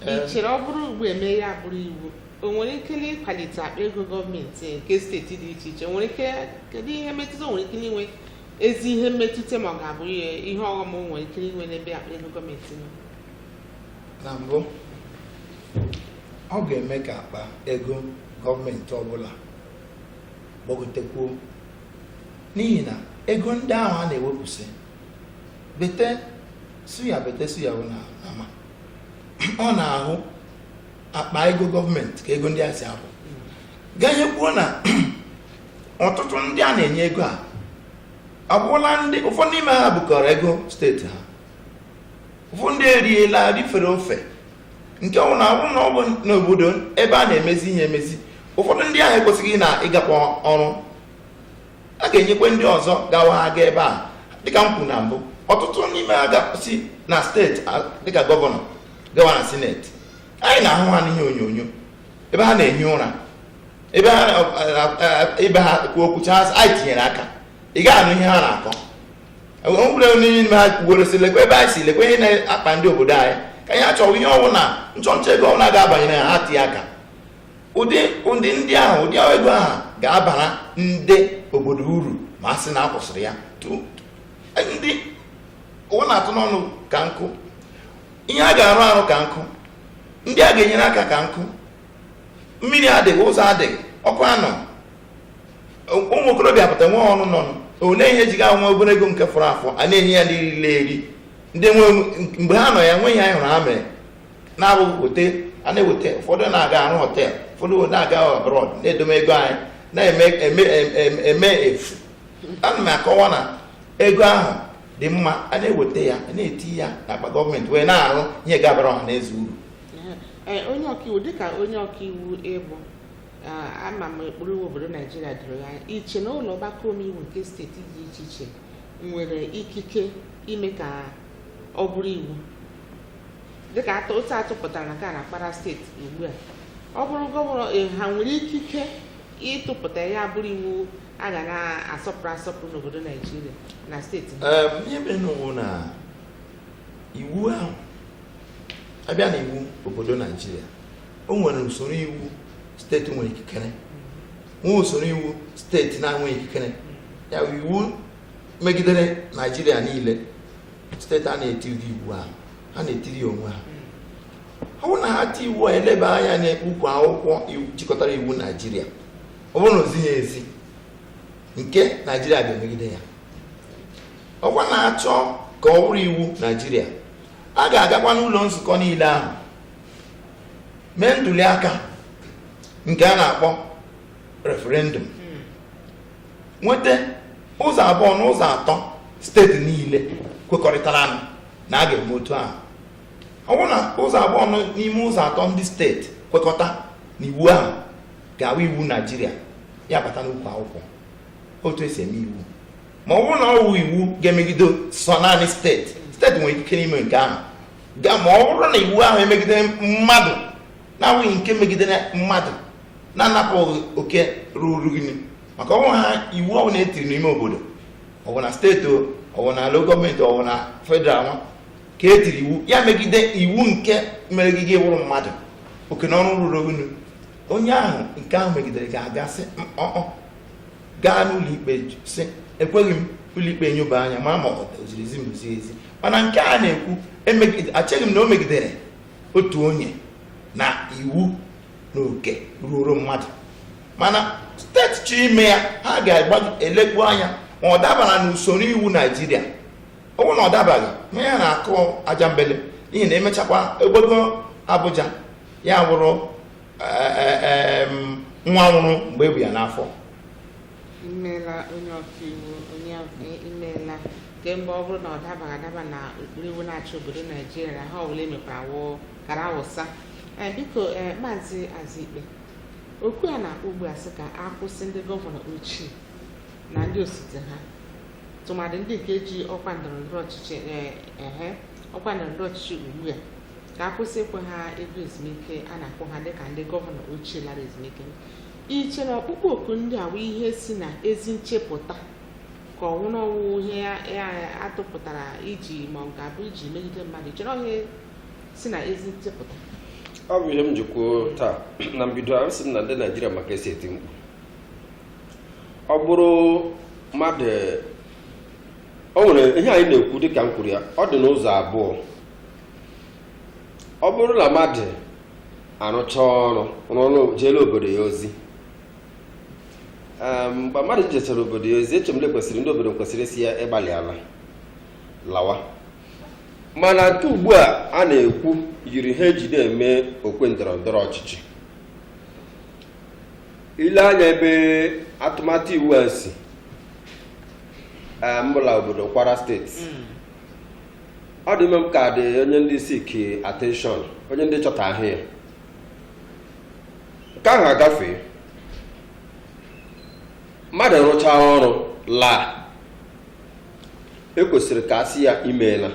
Em. ị chere ọ bụrụ ugbu a e mee ya bụrụ iwu o nwere ike na ịkwalite akpa ego gọọmenti nke steeti dị iche iche o nwere ike kedu ihe mmetụta o nwere ike inwe ezi ihe mmetụta ma ọ ga-abụ ihe ihe ọghọm o nwere ike inwe n'ebe akpa ego gọọmenti nọ na mbụ ọ ga-eme ka akpa ego gọọmenti ọbụla gbagotekwuo n'ihi na ego ndị ahụ a na-ewepụsị bete suya bete suya bụ na ama ọ n'ahụ akpa ego gọọmenti ka ego ndị a si apụ ka anyị kwuo na ọtụtụ ndị a na-enye ego a abụrụla ndị ụfọdụ n'ime ha bukọrọ ego steeti ha ụfọdụ ndị eriela rifere ofe nke wụ na ọ bụ na ọ bụ n'obodo ebe a na-emezi ihe emezi ụfọdụ ndị ahụ ekwesịghị na ịgakwa ọrụ a ga-enyekwa ndị ọzọ gawa ha gaa ebe a dịka m kwuru na mbụ ọtụtụ n'ime ha ga-esi na steeti dịka gọvanọ gawa na sineti anyị na-ahụ ha n'ihe onyonyo ebe ha na-ehi ụra ebe ha ebe ha kwuo okwucha anyị tinyere aka ị gaghị anụ ihe ha na-akọ enwere onye n'ime ha kwuwere sị lekwa ebe anyị si lekwa ihe na-akpa ndị obodo anyị ka anyị achọwa ihe ọbụla nchọnchọ ego ọbụla ga-abanyere ha tinye aka ụdị ụdị ndị ahụ ụdị ego ahụ ga-abara ndị obodo uru ma a sị na a kwụsịrị ya ndị ụwa na-atụ n'ọnụ ka nkụ ihe a ga-arụ arụ ka nkụ ndị a ga-enyere aka ka nkụ mmiri adịghị ụzọ adịghị ọkụ anọ ụmụ okorobịa pụta nwe ọrụ nọ ole ihe ji ga nwa obere ego nke fọrọ afọ a na-enye ya ndị rile eri ndị nwe mgbe ha nọ ya nweghị ihe anyị hụrụ ha mere na-abụghị weta a na-eweta ụfọdụ na-aga arụ hotel ụfọdụ na-aga abroad na-edome ego anyị na-eme emefu ana m akọwa na ego ahụ dị mma a na-eweta ya na-eti ya n'akpa gọọmenti wee na-arụ ihe ga-abara ọha na eze uru onye ọkaiwu dịka onye ọkaiwu ị bụ ama m ụkpụrụ iwu obodo naijiria doro gị anya i che na ụlọ ọgbakọ omeiwu nke steeti dị iche iche nwere ikike ime ka ọ bụrụ iwu dịka atụ otu a tụpụtara na ka na kwara steeti ugbu a ọ bụrụ gọvanọ e, ha nwere ikike ịtụpụta ya bụrụ iwu a ga na-asọpụrụ asọpụrụ n'obodo naijiria na steeti ihe mere na iwu ahụ abịa na iwu obodo naijiria o nwere usoro iwu steeti nwere ikikere nwee usoro iwu steeti na-enweghị ikikere ya iwu megidere naijiria niile steeti a na-etiri iwu ahụ ha na-etiri onwe ha ọ bụrụ na ha ti iwu a eleba anya n'ukwu akwụkwọ jikọtara iwu naijiria ọ bụrụ na o zighị ezi nke naijiria ga-emegide ya ọkwa na-achọ ka ọ bụrụ iwu naijiria a ga-agakwa n'ụlọ nzukọ niile ahụ mee ntuli aka nke a na-akpọ referendum nweta ụzọ abụọ na ụzọ atọ steeti niile kwekọrịtara na a ga-eme otu ahụ ọ bụrụ na ụzọ abụọ n'ime ụzọ atọ ndị steeti kwekọta na iwu ahụ ga-awụ iwu naijiria ya bata n'ukwu akwụkwọ otu esi eme iwu ma ọ bụrụ na ọ wụ iwu ga-emegide sọ naanị steeti steeti nwere ike ime nke ahụ ma ọ bụrụ na iwu ahụ emegide mmadụ na-awụghị nke megidere mmadụ na-anapụ gị oke ruru gị maka ọ wụ ha iwu ọbụla e tiri n'ime obodo ọ wụ na steeti ọ wụ na local gọọmenti ọ wụ na federal nwa ka e tiri iwu ya megide iwu nke mere gị gị wụrụ mmadụ oke na ọrụ ruru onye ahụ nke ahụ megidere ga-aga sị no gaa n'ụlọikpe sị ekweghị m ụlọikpe enyoba anya ma ọ ziri ezi ma o zighị ezi mana nke a na-ekwu echeghị m na o megidere otu onye na iwu na oke ruoro mmadụ mana steeti chọọ ime ya ha ga-elekwu anya ma ọ dabara n'usoro iwu naijiria ọ bụrụ na ọ dabaghị ma ya na-akụ ajambele n'ihi na emechakwa agbago abuja ya wụrụ nwa nwụrụ mgbe e bu ya n'afọ imeela onye ọkaiwu imeela kemgbe ọ bụrụ na ọ dabaghị adaba na ụkpụrụ iwu na-achị obodo naijiria ihe ọbụla emekwara wụ kara awụsa ee biko ee maazị azikpe oku a na-akpọ ugbu a sị ka a kwụsị ndị gọvanọ ochie na ndị osote ha tụmadị ndị nke ji ọkwa ndọrọndọrọ ọchịchị ee ehe ọkwa ndọrọndọrọ ọchịchị ugbu a ka a kwụsị ịkwụ ha ego ezumike a na-akwụ ha dịka ndị gọvanọ ochie lara ezumike i che na ọkpụkpọ oku ndị a bụ ihe si na ezi nchepụta ka ọ wụ na ọ wụ ihe a tụpụtara iji ma ọ ga-abụ iji megide mmadụ i che na ihe si na ezi nchepụta ọ bụ ihe m ji kwuo taa na mbido asị m na ndị naijiria ma ka e si eti mkpu ọ bụrụ mmadụ o nwere ihe anyị na-ekwu dịka m kwuru ya ọ dị n'ụzọ abụọ ọ bụrụ na mmadụ arụcha ọrụ rụrụ jeela obodo ya ozi Em, mgbe mmadụ jechara obodo ya ozi eche m na kwesịrị ndị obodo kwesịrị ịsị ya ị gbalịala lawa mana nke ugbu a a na-ekwu yiri ihe eji na-eme okwe ndọrọ ndọrọ ọchịchị ile anya ebe atụmatụ iwu a si eh, mbụ la obodo Kwara steeti ọ dị ime m ka dị onye ndị seek attention onye ndị chọ ka a hụ ya nke ahụ agafee mmadụ rụchaa ọrụ laa ekwesịrị ka a sị ya i meela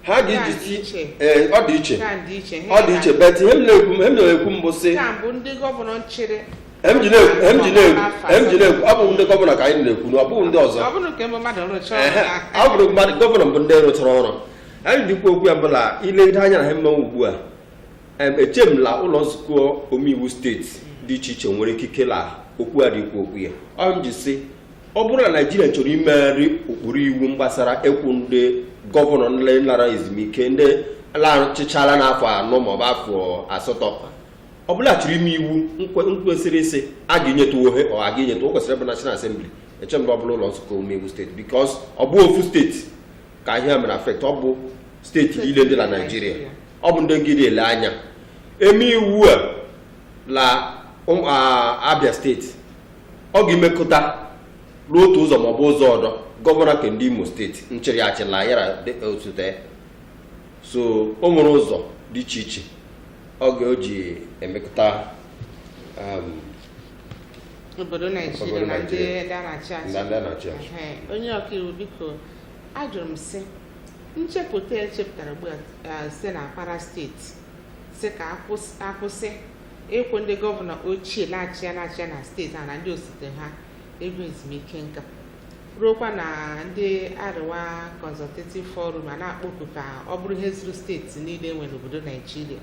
ha Nke a dị ga-eji iche. ee ọ dị iche Nke a dị iche. ọ dị iche but ihe m na-ekwu ihe m na-ekwu mbụ sị Nke a bụ ndị gọvanọ nchịrị m ji na-ekwu m ji na-ekwu m ji na-ekwu abụghị ndị gọvanọ ka anyị na-ekwu na ọ bụghị ndị ọzọ ọ bụrụ nke mbụ mmadụ rụchaa ọrụ Ehe, ya ọ bụrụ mmadụ gọvanọ bụ ndị rụchara ọrụ anyị dị ikwu okwu ya bụ la ilegide anya na ha mmanwụ ugbu a em, eche m la ụlọ nzukọ omeiwu steeti dị iche iche nwere ikike la okwu a dị ikwu okwu ya ọ m ji sị ọ bụrụ na naijiria chọrọ imegharị ụkpụrụ iwu gbasara ịkwụ ndị gọvanọ ndị lara ezumike ndị lachịchala n'afọ anọ maọbụ afọ asatọ ọ bụla chịrị ime iwu nkwesịrị isi a ga-enyetụ ohe ọ a ga-enyetụ o kwesịrị bụ National Assembly eche m na ọ bụ la ụlọ nzukọ omeiwu steeti because ọ bụ ofu steeti ka ihe a mere affect ọ bụ steeti niile dị na naijiria ọ bụ ndị gị dị ele anya e mee iwu a la abia steeti ọ ga-emekọta n'otu ụzọ maọbụ ụzọ ọdọ gọvanọ nke ndị imo steeti nchịrị achịla ya ra osote so o nwere ụzọ dị iche iche ọ ga-eji emekọta um, obodo naijiria na ndị na-achị achị onye ọkaiwu biko ajụrụ m sị nchepụta echepụtara ugbu a site na Kwara steeti sị ka a kwụsị ịkwụ ndị gọvanọ ochie na-achị ya na-achị ya na steeti a na ndị osote ha ego ezumike nka ruokwa na ndị Arewa Consultative Forum a na-akpọku ka ọ bụrụ ihe zuru steeti niile enwere n'obodo Naijiria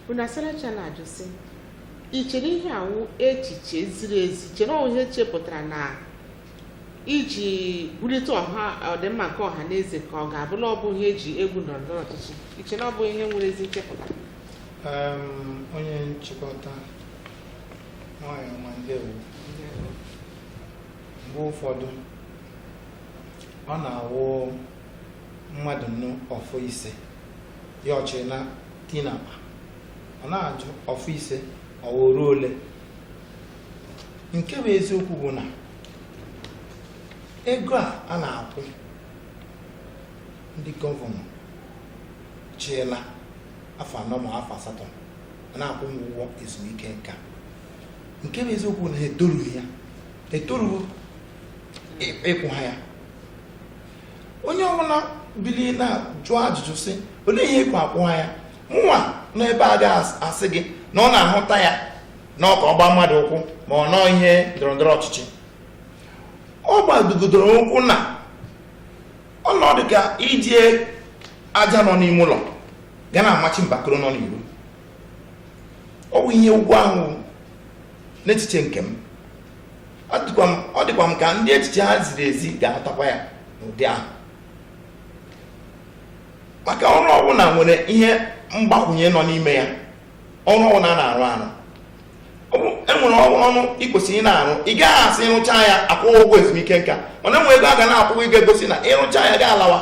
unu asaracha na-ajụ sị i chere ihe a wụ echiche ziri ezi chere ọ wụ ihe e chepụtara na iji bulite ọha ọdịmma nke ọha na eze ka ọ ga-abụ na ọ bụ ihe eji egwu ndọrọ ndọrọ ọchịchị i che na ọ bụ ihe nwere ezi nchepụta Em, onye nchịkọta nwanyị ọma ndewo mgbe ụfọdụ ọ na-awụ mmadụ nụ ọfọ ise ya achịrị na-eti n'akpa a na-ajụ ọfọ ise ọ wụrụ ole nke bụ eziokwu bụ na ego a a na-akwụ ndị gọvanọ chịla afọ anọ ma afọ asatọ a na-akwụ ụgwọ ezumike nka nke bụ eziokwu na etorughị ya etorughị ịkwụ ha ya onye ọbụla bilie na-ajụ ajụjụ sị olee ihe ejikwa akwụ ha ya mụnwa n'ebe a ga-asị gị na ọ na-ahụta ya na ọka ọgba mmadụ ụkwụ ma ọ nọọ ihe ndọrọndọrọ ọchịchị ọ gbadogodoro ụkwụ na ọ nọ dịka iji aja nọ n'ime ụlọ ga na-amachi mbakoro nọ n'iro ọ bụ ihe ụgwọ ahụ n'echiche nke m ọ dịkwa m ka ndị echiche ha ziri ezi ga-ahụtakwa ya n'ụdị ahụ maka ọrụ ọbụla nwere ihe mgbakwunye nọ n'ime ya ọrụ ọbụla a na-arụ arụ enwere ọrụ ị kwesịrị ị na-arụ ị gaghị asị ị rụchaa ya akwụọ gị ụgwọ ezumike nka mana enwere ego a ga na-akwụ gị ga-egosi na ị rụchaa ya ga-alawa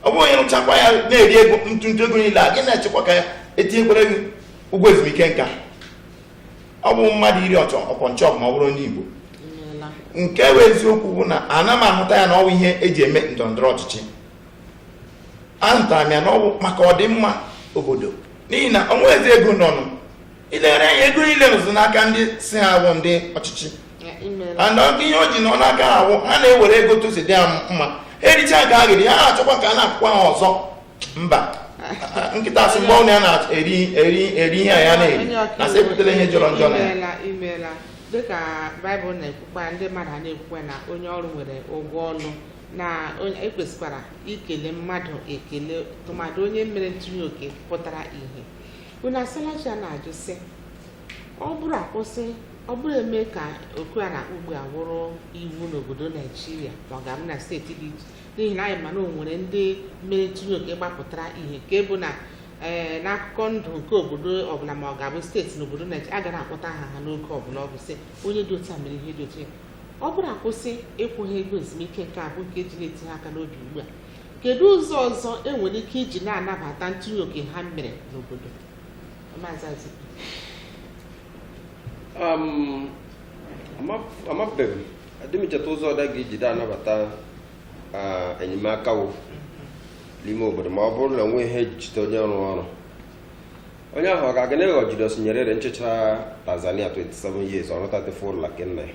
ọ bụghị onye rụchakwa ya na-eri ego ntụntụ ego niile ahụ ị na-echekwa ka etinyekwara gị ụgwọ ezumike nka ọ bụ mmadụ iri ọchọ ọpọ nchọ ma ọ bụrụ onye igbo nke bụ eziokwu bụ na ana m ahụta ya na ọwụ ihe eji eme ndọrọndọrọ ọchịchị ahụtara m ya na ọ bụ maka ọdịmma obodo n'ihi na o nweghị ezi ego nọnụ i lere anya ego niile nọzi n'aka ndị sị ha awụ ndị ọchịchị and ọ wụ ihe o ji nọ n'aka ha awụ ha na-ewere ego otu o si dị ha mma ha ericha nke ha ga-eri ha achọkwa ka a na-akwụkwa ha ọzọ mba nkịta sị mgbe ọnụ ya na-eri eri eri ihe a ya na-eri na sị ebutere ihe jọrọ njọ na ya imeela imeela dịka baịbụl na-ekwukwa ndị mmadụ a na-ekwukwa na onye ọrụ nwere ụgwọ ọrụ na onye- ekwesịkwara ikele mmadụ ekele tụmadị onye mere ntụnye oke pụtara ihe Unu Asalachi a na-ajụ sị ọ bụrụ akwụsị ọ bụrụ emee ka oku a na-akpọ ugbu a wụrụ iwu n'obodo Naijiria ma ọ ga-abụ na steeti dị iche n'ihi na anyị ma na o nwere ndị mere ntụnye oke gbapụtara ihe nke bụ na ee eh, n'akụkọ ndụ nke obodo ọbụla ma ọ ga-abụ steeti n'obodo Naijiria a ga na-akpọta aha ha n'oge ọbụla ọ bụ sị onye dị otu a mere ihe dị otu a ọ bụrụ akwụsị ịkwụ ha ego ezumike nka a bụ nke eji na-eti ha aka n'obi ugbu a kedu ụzọ ọzọ e nwere ike iji na-anabata ntinye oke ha mere n'obodo Maazị Azikiwe. Um, ama- amabeghị m adị m echeta ụzọ ọdọ a ga-eji da-anabata ah, enyemaka wụ n'ime obodo ma ọ bụrụ na enwe ihe eji echete onye rụrụ ọrụ onye ahụ ọ ga-aga na ịghọ Julius Nyerere chịchara Tanzania 27 years ọrụ 34 ụlọ nke nna ya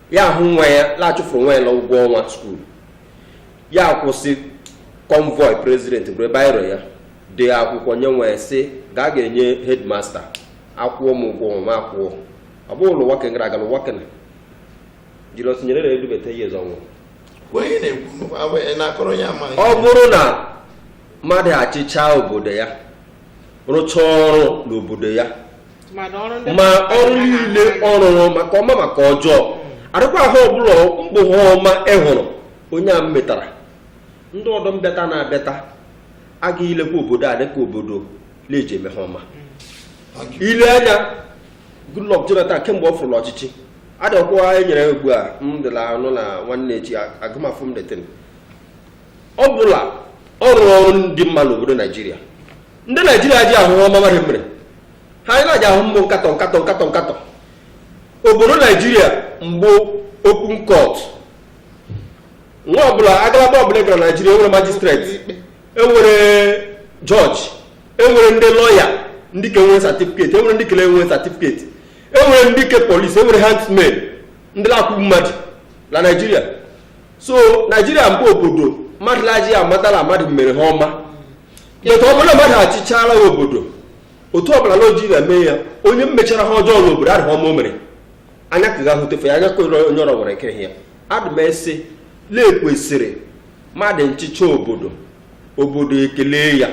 ya ahụ nwa ya la achụfụrụ nwa ya na ụgwọ ọnwa skuul ya kwụsị kọnvọị prezident buru biro ya dee akwụkwọ nye nwa ya sị gaa ga-enye hedmasta akwụọ m ụgwọ ọnwa m akwụọ ọ bụghị ụlọ nwoke gara aga na nwoke na Julius Nyerere edubata ya eze ọnwụ onye na-ekwu agwa ya na-akọrọ ya amaghị ọ bụrụ na mmadụ achịchaa obodo ya rụchaa ọrụ n'obodo ya ma ọrụ niile ọ rụrụ maka ọma maka ọjọọ adịkwa ha ọbụla mbụ ha ọma ị hụrụ onye a metara ndị ọdọ mbịata na-abịata agaghị ilekwa obodo a dịka obodo na-eji eme ha ọma ile anya Goodluck Jonathan kemgbe ọ fụrụ la ọchịchị adịkwa enyere ugbu a m dịla anụ na nwanne echi agụmafụ m detin ọ bụla ọ rụrụ ọrụ ndị mma n'obodo naijiria ndị naijiria aji ahụ ọma mmadụ mere ha anyị na-aji ahụ mbụ nkatọ nkatọ nkatọ nkatọ obodo naijiria mbụ open court nwa ọbụla agalaba ọbụla gara naijiria enwere majistreti enwere jọji enwere ndị lọya ndị ke nwere satifiketi enwere ndị kele enwere satifiketi enwere ndị ke polisi enwere hangmen ndị na-akwụ mmadụ na naijiria so naijiria mbụ obodo mmadụ la-aji amata la mmadụ mere ha ọma etu ọ bụla mmadụ achịchala obodo otu ọbụla na oji na-eme ya onye mmechara ha ọjọọ n'obodo adịghị ha ọma o mere anya ka ga hụtefe ya anya ka onye onye ọrọ nwere ike ya adị m esi na ekwesịrị mmadụ nchịcha obodo obodo ekele ya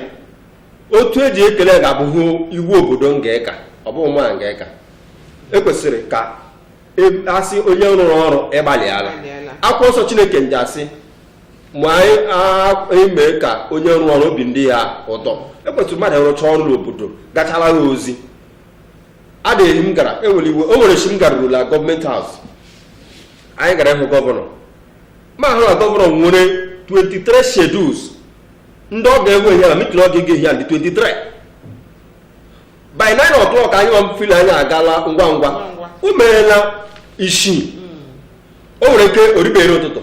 otu eji ekele ga-abụhụ iwu obodo nga-eka ọ bụghị mụ a ga-eka ekwesịrị ka e- asị onye rụrụ ọrụ ị gbalịala Ị gbalịala. akwụkwọ nsọ chineke nji sị ma anyị mee ka onye rụọ ọrụ obi ndị ya ụtọ ekwesịrị mmadụ ịrụcha ọrụ n'obodo gachara ya ozi adịghị m gara enwere iwe o nwere chi m garuru la gọọmenti haus anyị gara ịhụ gọvanọ m ahụ na gọvanọ nwere 23 schedules ndị ọ ga-enwe ihe na mitin ọ ga-ege ihe ndị 23 by 9 o'clock anyị nwa mfili anyị agala ngwa ngwa o merela isii o nwere ike o ribere ụtụtụ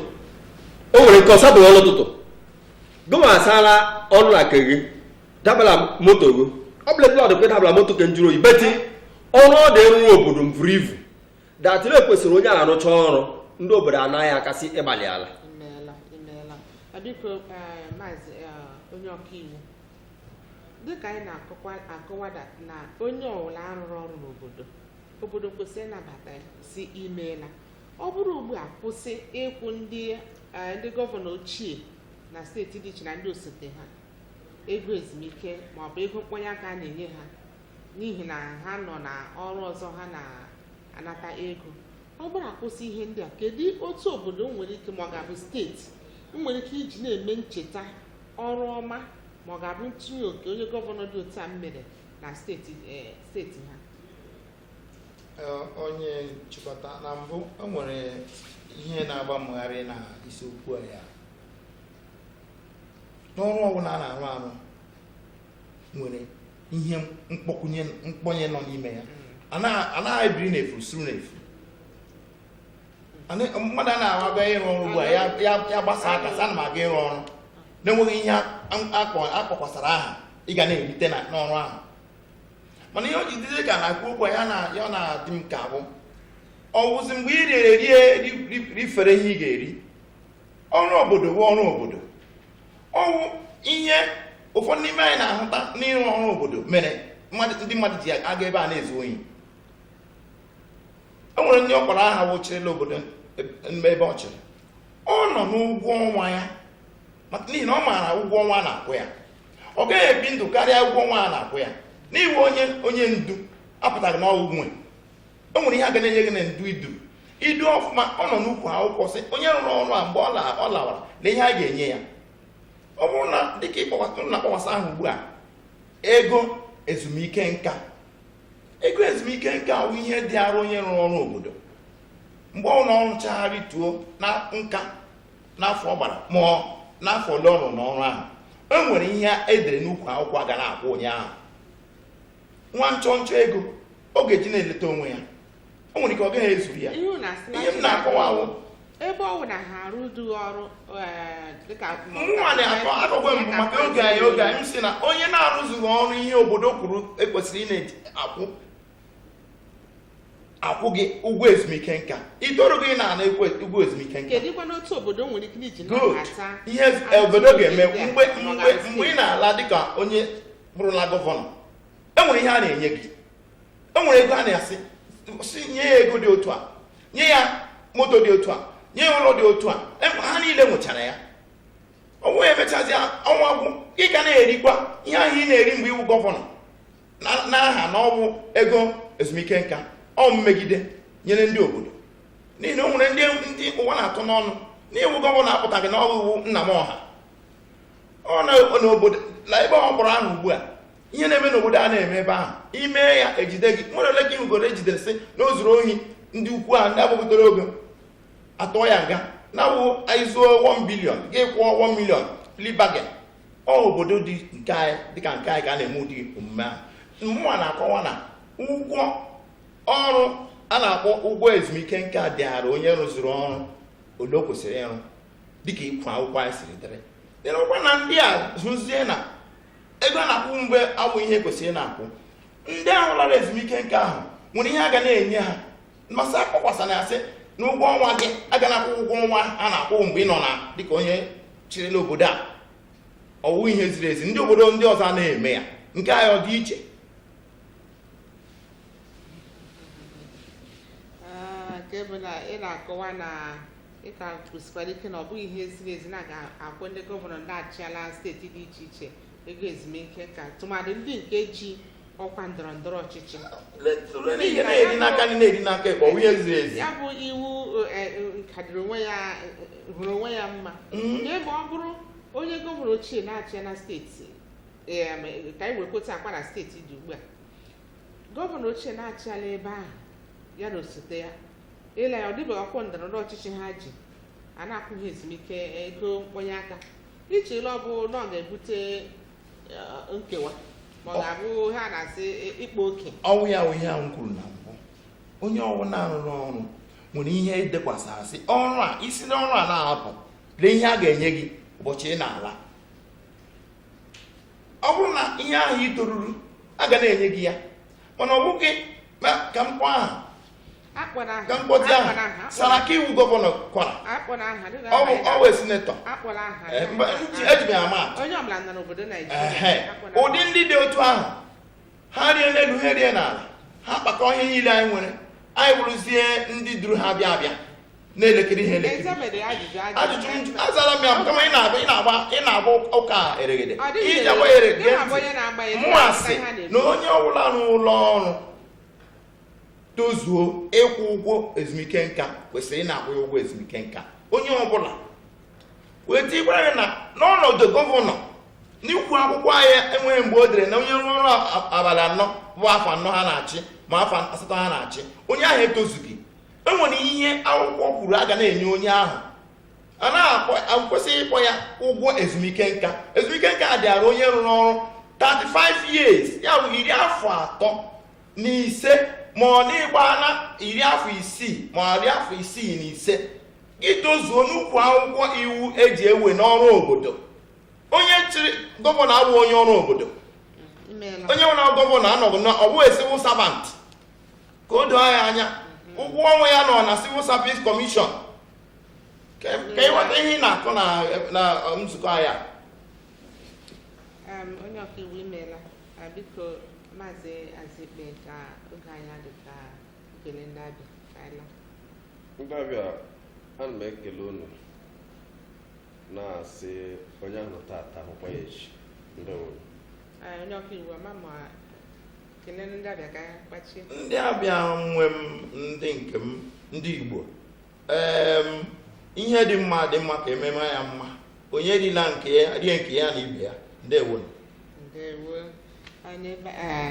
o nwere nke ọ sadụ ọlụ ụtụtụ gụnwa asala ọnụ la ke gị dabala moto gị ọ bụla blọd kwe dabala moto ke njụrụ oyi beti ọrụ ọ dị arụrụ obodo mvuru ivu datịrị ekwesịrị onye arụcha ọrụ ndị obodo anaa ya aka sị ị gbalịala imeela imeela Ọ biko eh, maazị eh, onye ọkaiwu dịka anyị na-akọwa akọwada na onye ọwụla rụrụ ọrụ n'obodo obodo kwesịrị ịnabata ya sị imeela ọ bụrụ ugbu a kwụsị ịkwụ ndị eh, ndị gọvanọ ochie na steeti dị iche na ndị osote ha ego ezumike ma ọ bụ ego mkpọnye aka a na-enye ha n'ihi na ha nọ na ọrụ ọzọ ha na-anata ego ọ bụrụ akwụsị ihe ndị a kedu otu obodo nwere ike ma ọ ga-abụ steeti nwere ike iji na-eme ncheta ọrụ ọma ma ọ ga-abụ ntinye oke onye gọvanọ dị otu a mere na steeti eh, steeti ha onye nchịkọta na mbụ o nwere ihe na-agba m gharịị n'isiokwu a ya n'ọrụ ọbụla a na-arụ arụ nwere ihe mkpọkwunye mkpọnye nọ n'ime ya anaghị ebiri n'efu suru n'efu mmadụ a na-aga ịrụ ọrụ ugbu a ya gbasa aka sị ana m aga ịrụ ọrụ na-enweghị ihe a kpọkwasara aha ị ga na-erite n'ọrụ ahụ mana ihe o ji dịzi ka a na-ekwu okwu ya na ya na-adị m ka bụ ọwụzi mgbe ị rere rie ri- ri- rifere ihe ị ga-eri ọrụ obodo bụ ọrụ obodo ọwụ ihe ụfọdụ n'ime anyị na-ahụta n'ịrụ ọrụ obodo mere mmadụ- ndị mmadụ ji aga ebe a na-ezu ohi o nwere ndị ọkpọrọ aha wụ chịrịla obodo ebe ebe ọ chịrị ọ nọ n'ụgwọ ọnwa ya maka n'ihi na ọ maara ụgwọ ọnwa a na-akwụ ya ọ gaghị ebi ndụ karịa ụgwọ ọnwa a na-akwụ ya na ị wụ onye onye ndu apụtaghị na ọ wụ nwe o nwere ihe a ga na-enye gị na ndu idu idu ọfụma ọ nọ n'ukwu akwụkwọ sị onye rụrụ ọrụ a mgbe ọ lawara na ihe a ga-enye ya ọ bụrụ na dịka na akpọkwasa ahụ ugbu a ego ezumike nka ego ezumike nka bụ ihe dịịrị onye rụrụ ọrụ obodo mgbe ọ nọ n'ọrụ chagharị tuo na nka n'afọ ọ gbara ma n'afọ ole ọ rụrụ n'ọrụ ahụ e nwere ihe e dere n'ukwu akwụkwọ a ga na-akwụ onye ahụ nwa nchọnchọ ego ọ ga-eji na-eleta onwe ya o nwere ike ọ gaghị ezuru ya ihe unu asị na ihe m na-akọwa wụ ebe ọ bụ na ha arụdụ ọrụ eh, dịka mụnwa na-akọ akụkọ mbụ maka oge anyị oge anyị m sị na onye na-arụzughị ọrụ ihe obodo kwuru ekwesịrị ị na-akwụ akwụ gị ụgwọ ezumike nka i torughị na a na-akwụ ụgwọ ezumike nka kedụkwanụ otu obodo nwere ike iji good nabata ihe obodo ga-eme mgbe mgbe mgbe ị na-ala dịka onye bụrụla gọvanọ enwere ihe a na-enye gị enwere ego a na-asị sị nye ya ego dị otu a nye ya moto dị otu a nye ya ụlọ dị otu a Em- ha niile nwechara ya ọ wụ e mechazie ọnwa gwụ ị ka na-erikwa ihe ahụ ị na-eri mgbe ị wụ gọvanọ n'aha na ọwụ ego ezumike nka ọ mmegide nyere ndị obodo n'ihi na o nwere ndị ndị ụwa na-atụ n'ọnụ na ị wụ gọvanọ apụtaghị n'ọrụ ị wụ nna m ọha ọ na n'obodo na ebe ọ kpọrọ aha ugbu a ihe na-eme n'obodo a na-eme ebe ahụ i mee ya e jide gị nwere ole gị ugoro ejidere sị na o zuru ohi ndị ukwu ahụ ndị agbapụtara ogo atụọ ya nga na-awụ anyị zuo 1 bilion gị kwụọ 1 milion plea bargain ọ obodo dị nke anyị dịka nke anyị ka a na-eme ụdị omume ahụ mụwa na-akọwa na ụgwọ ọrụ a na-akpọ ụgwọ ezumike nka dịara onye rụzuru ọrụ ole o kwesịrị ịrụ dịka ikwu akwụkwọ anyị siri dịrị dịrịkwa na ndị a zụzie na ego a na-akwụ mgbe awụ ihe kwesịrị na-akwụ ndị ahụ lara ezumike nka ahụ nwere ihe a ga na-enye ha ma sị akpọkwasana ya sị na ụgwọ ọnwa gị a ga na-akwụ ụgwọ ọnwa a na-akwụ mgbe ị nọ na dịka onye chịrịla obodo a ọwụ ihe ziri ezi ndị obodo ndị ọzọ na-eme ya nke anyị ọ dị iche nke bụ na ị na-akọwa na ị ka kwụsịkwara ike na ọ bụghị ihe ziri ezi na a ga-akwụ ndị gọvanọ ndị achịala steeti dị iche iche ego ezumike nka tụmadị ndị nke ji ọkwa ndọrọ ndọrọ ọchịchị Ihe na-eri n'aka nri na-eri n'aka ekpe ọwụ ihe ziri ezi ya bụ iwu eh, eh, nke dịrị onwe ya eh, hụrụ onwe ya mma Mm. nke ma ọ bụrụ onye gọvanọ ochie na-achị ya na steeti eh, ma, eh, ka anyị wee kweta Kwara steeti dị ugbu a gọvanọ ochie na-achịala ebe ahụ ya na osote ya i lee ya ọ dịbeghị ọkwa ndọrọndọrọ ọchịchị ha ji a na-akwụghị ezumike ego mkpọnye aka i chere ọ bụ na ọ ga-ebute eh, nkewa ma ọ ga-abụ ha na-asị eh, ịkpa oke ọwụ ya wụ ihe ahụ m kwuru na mbụ onye ọwụla rụrụ ọrụ nwere ihe edekwasara sị ọrụ a i si n'ọrụ a na-apụ lee ihe a ga-enye gị ụbọchị ị na-ala ọ bụrụ na ihe ahụ i toruru a ga na-enye gị ya mana ọ bụghị ka m kpọọ aha akpọla aha ka m kpọtụ aha akpọla aha Saraki wụ gọvanọ Kwara akpọla aha dịka ọ bụ aha ọ bụ sinetọ akpọla aha Eh, mba, nji- eji m ya ama atụ. onye ọbụla nọ n'obodo Ehe. Naijiria akpọla aha. ụdị ndị dị otu ahụ ha rie n'elu ha rie n'ala ha kpakọ ihe niile anyị nwere anyị bụrụzie ndị duru ha bịa abịa na-elekiri ihe elekiri ajụjụ azara m ya kama ị na-agba ụka eregede i ji agba ya eregede mụwa sị na onye ọbụla n'ụlọ ọrụ tozuo ịkwụ ụgwọ ezumike nka kwesịrị ịna-akwụ ya ụgwọ ezumike nka onye ọbụla wee tikwara gị na n'ọnọdụ gọvanọ n'ikwu akwụkwọ anyị enweghị mgbe o dere na onye rụrụ ọrụ abalị anọ bụ afọ anọ ha na-achị ma afọ asatọ ha na-achị onye ahụ etozughị e nwere ihe akwụkwọ kwuru a ga na-enye onye ahụ a na-akwesịghị ịkpọ ya ụgwọ ezumike nka ezumike nka a dịara onye rụrụ ọrụ 35 years ya bụ iri afọ atọ na ise ma ọ na ị gbaana iri afọ isii ma ọ iri afọ isii na ise gị tozuo n'ukwu akwụkwọ iwu eji ewe n'ọrụ obodo onye chịrị gọvanọ awụ onye ọrụ obodo onye nwere gọvanọ anọghị na ọ wụ a civil servant ka o doo ya anya ụgwọ ọnwa ya nọ na civil service commission ka ka ịghọta ihe ị na-akọ na na nzukọ anyị a. Um, onye ọkaiwu imeela Ah, biko maazị azikpe ka oge anyị adị ka e kelee ndị abịa ka anyị laa. ndị abịa ana m ekele unu na-asị onye a hụrụ tata a hụkwa ya echi ndewo Ah, onye ọkaiwu ama ma ndị abịa nwe m ndị nke m ndị Igbo ihe dị mma dị mma ka ememe ya mma onye rila nke ya rie nke ya na ibe ya ndewo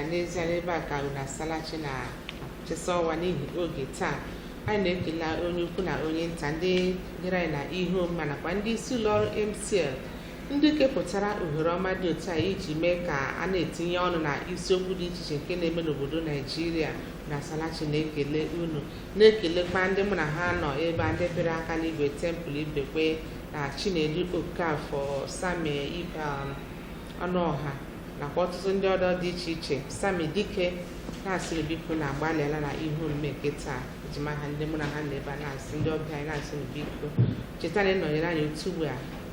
n'ezie n'ebe a ka unu asalachi na achịsa ọnwa n'ihi oge taa anyị na-ekele onye ukwu na onye nta ndị gere anyị na ihe omume nakwa ndị isi ụlọ ọrụ MCL ndị kepụtara ohere ọma dị otu a iji mee ka a na-etinye ọnụ na isiokwu dị iche iche nke na-eme n'obodo naijiria na salachi na-ekele unu na-ekelekwa ndị mụ na ha nọ ebe a ndị pịara aka n'igwe Temple ibekwe na chinedu okafọ sami ibe ọnụọha nakwa ọtụtụ ndị ọdọ dị iche iche sami dike na-asịrị biko na agbalịala na ihe omume nke taa eji m aha ndị mụ na ha nọ ebe a na-asị ndị ọbịa anyị na-asị na biko cheta na ịnọnyere anyị otu ugbu a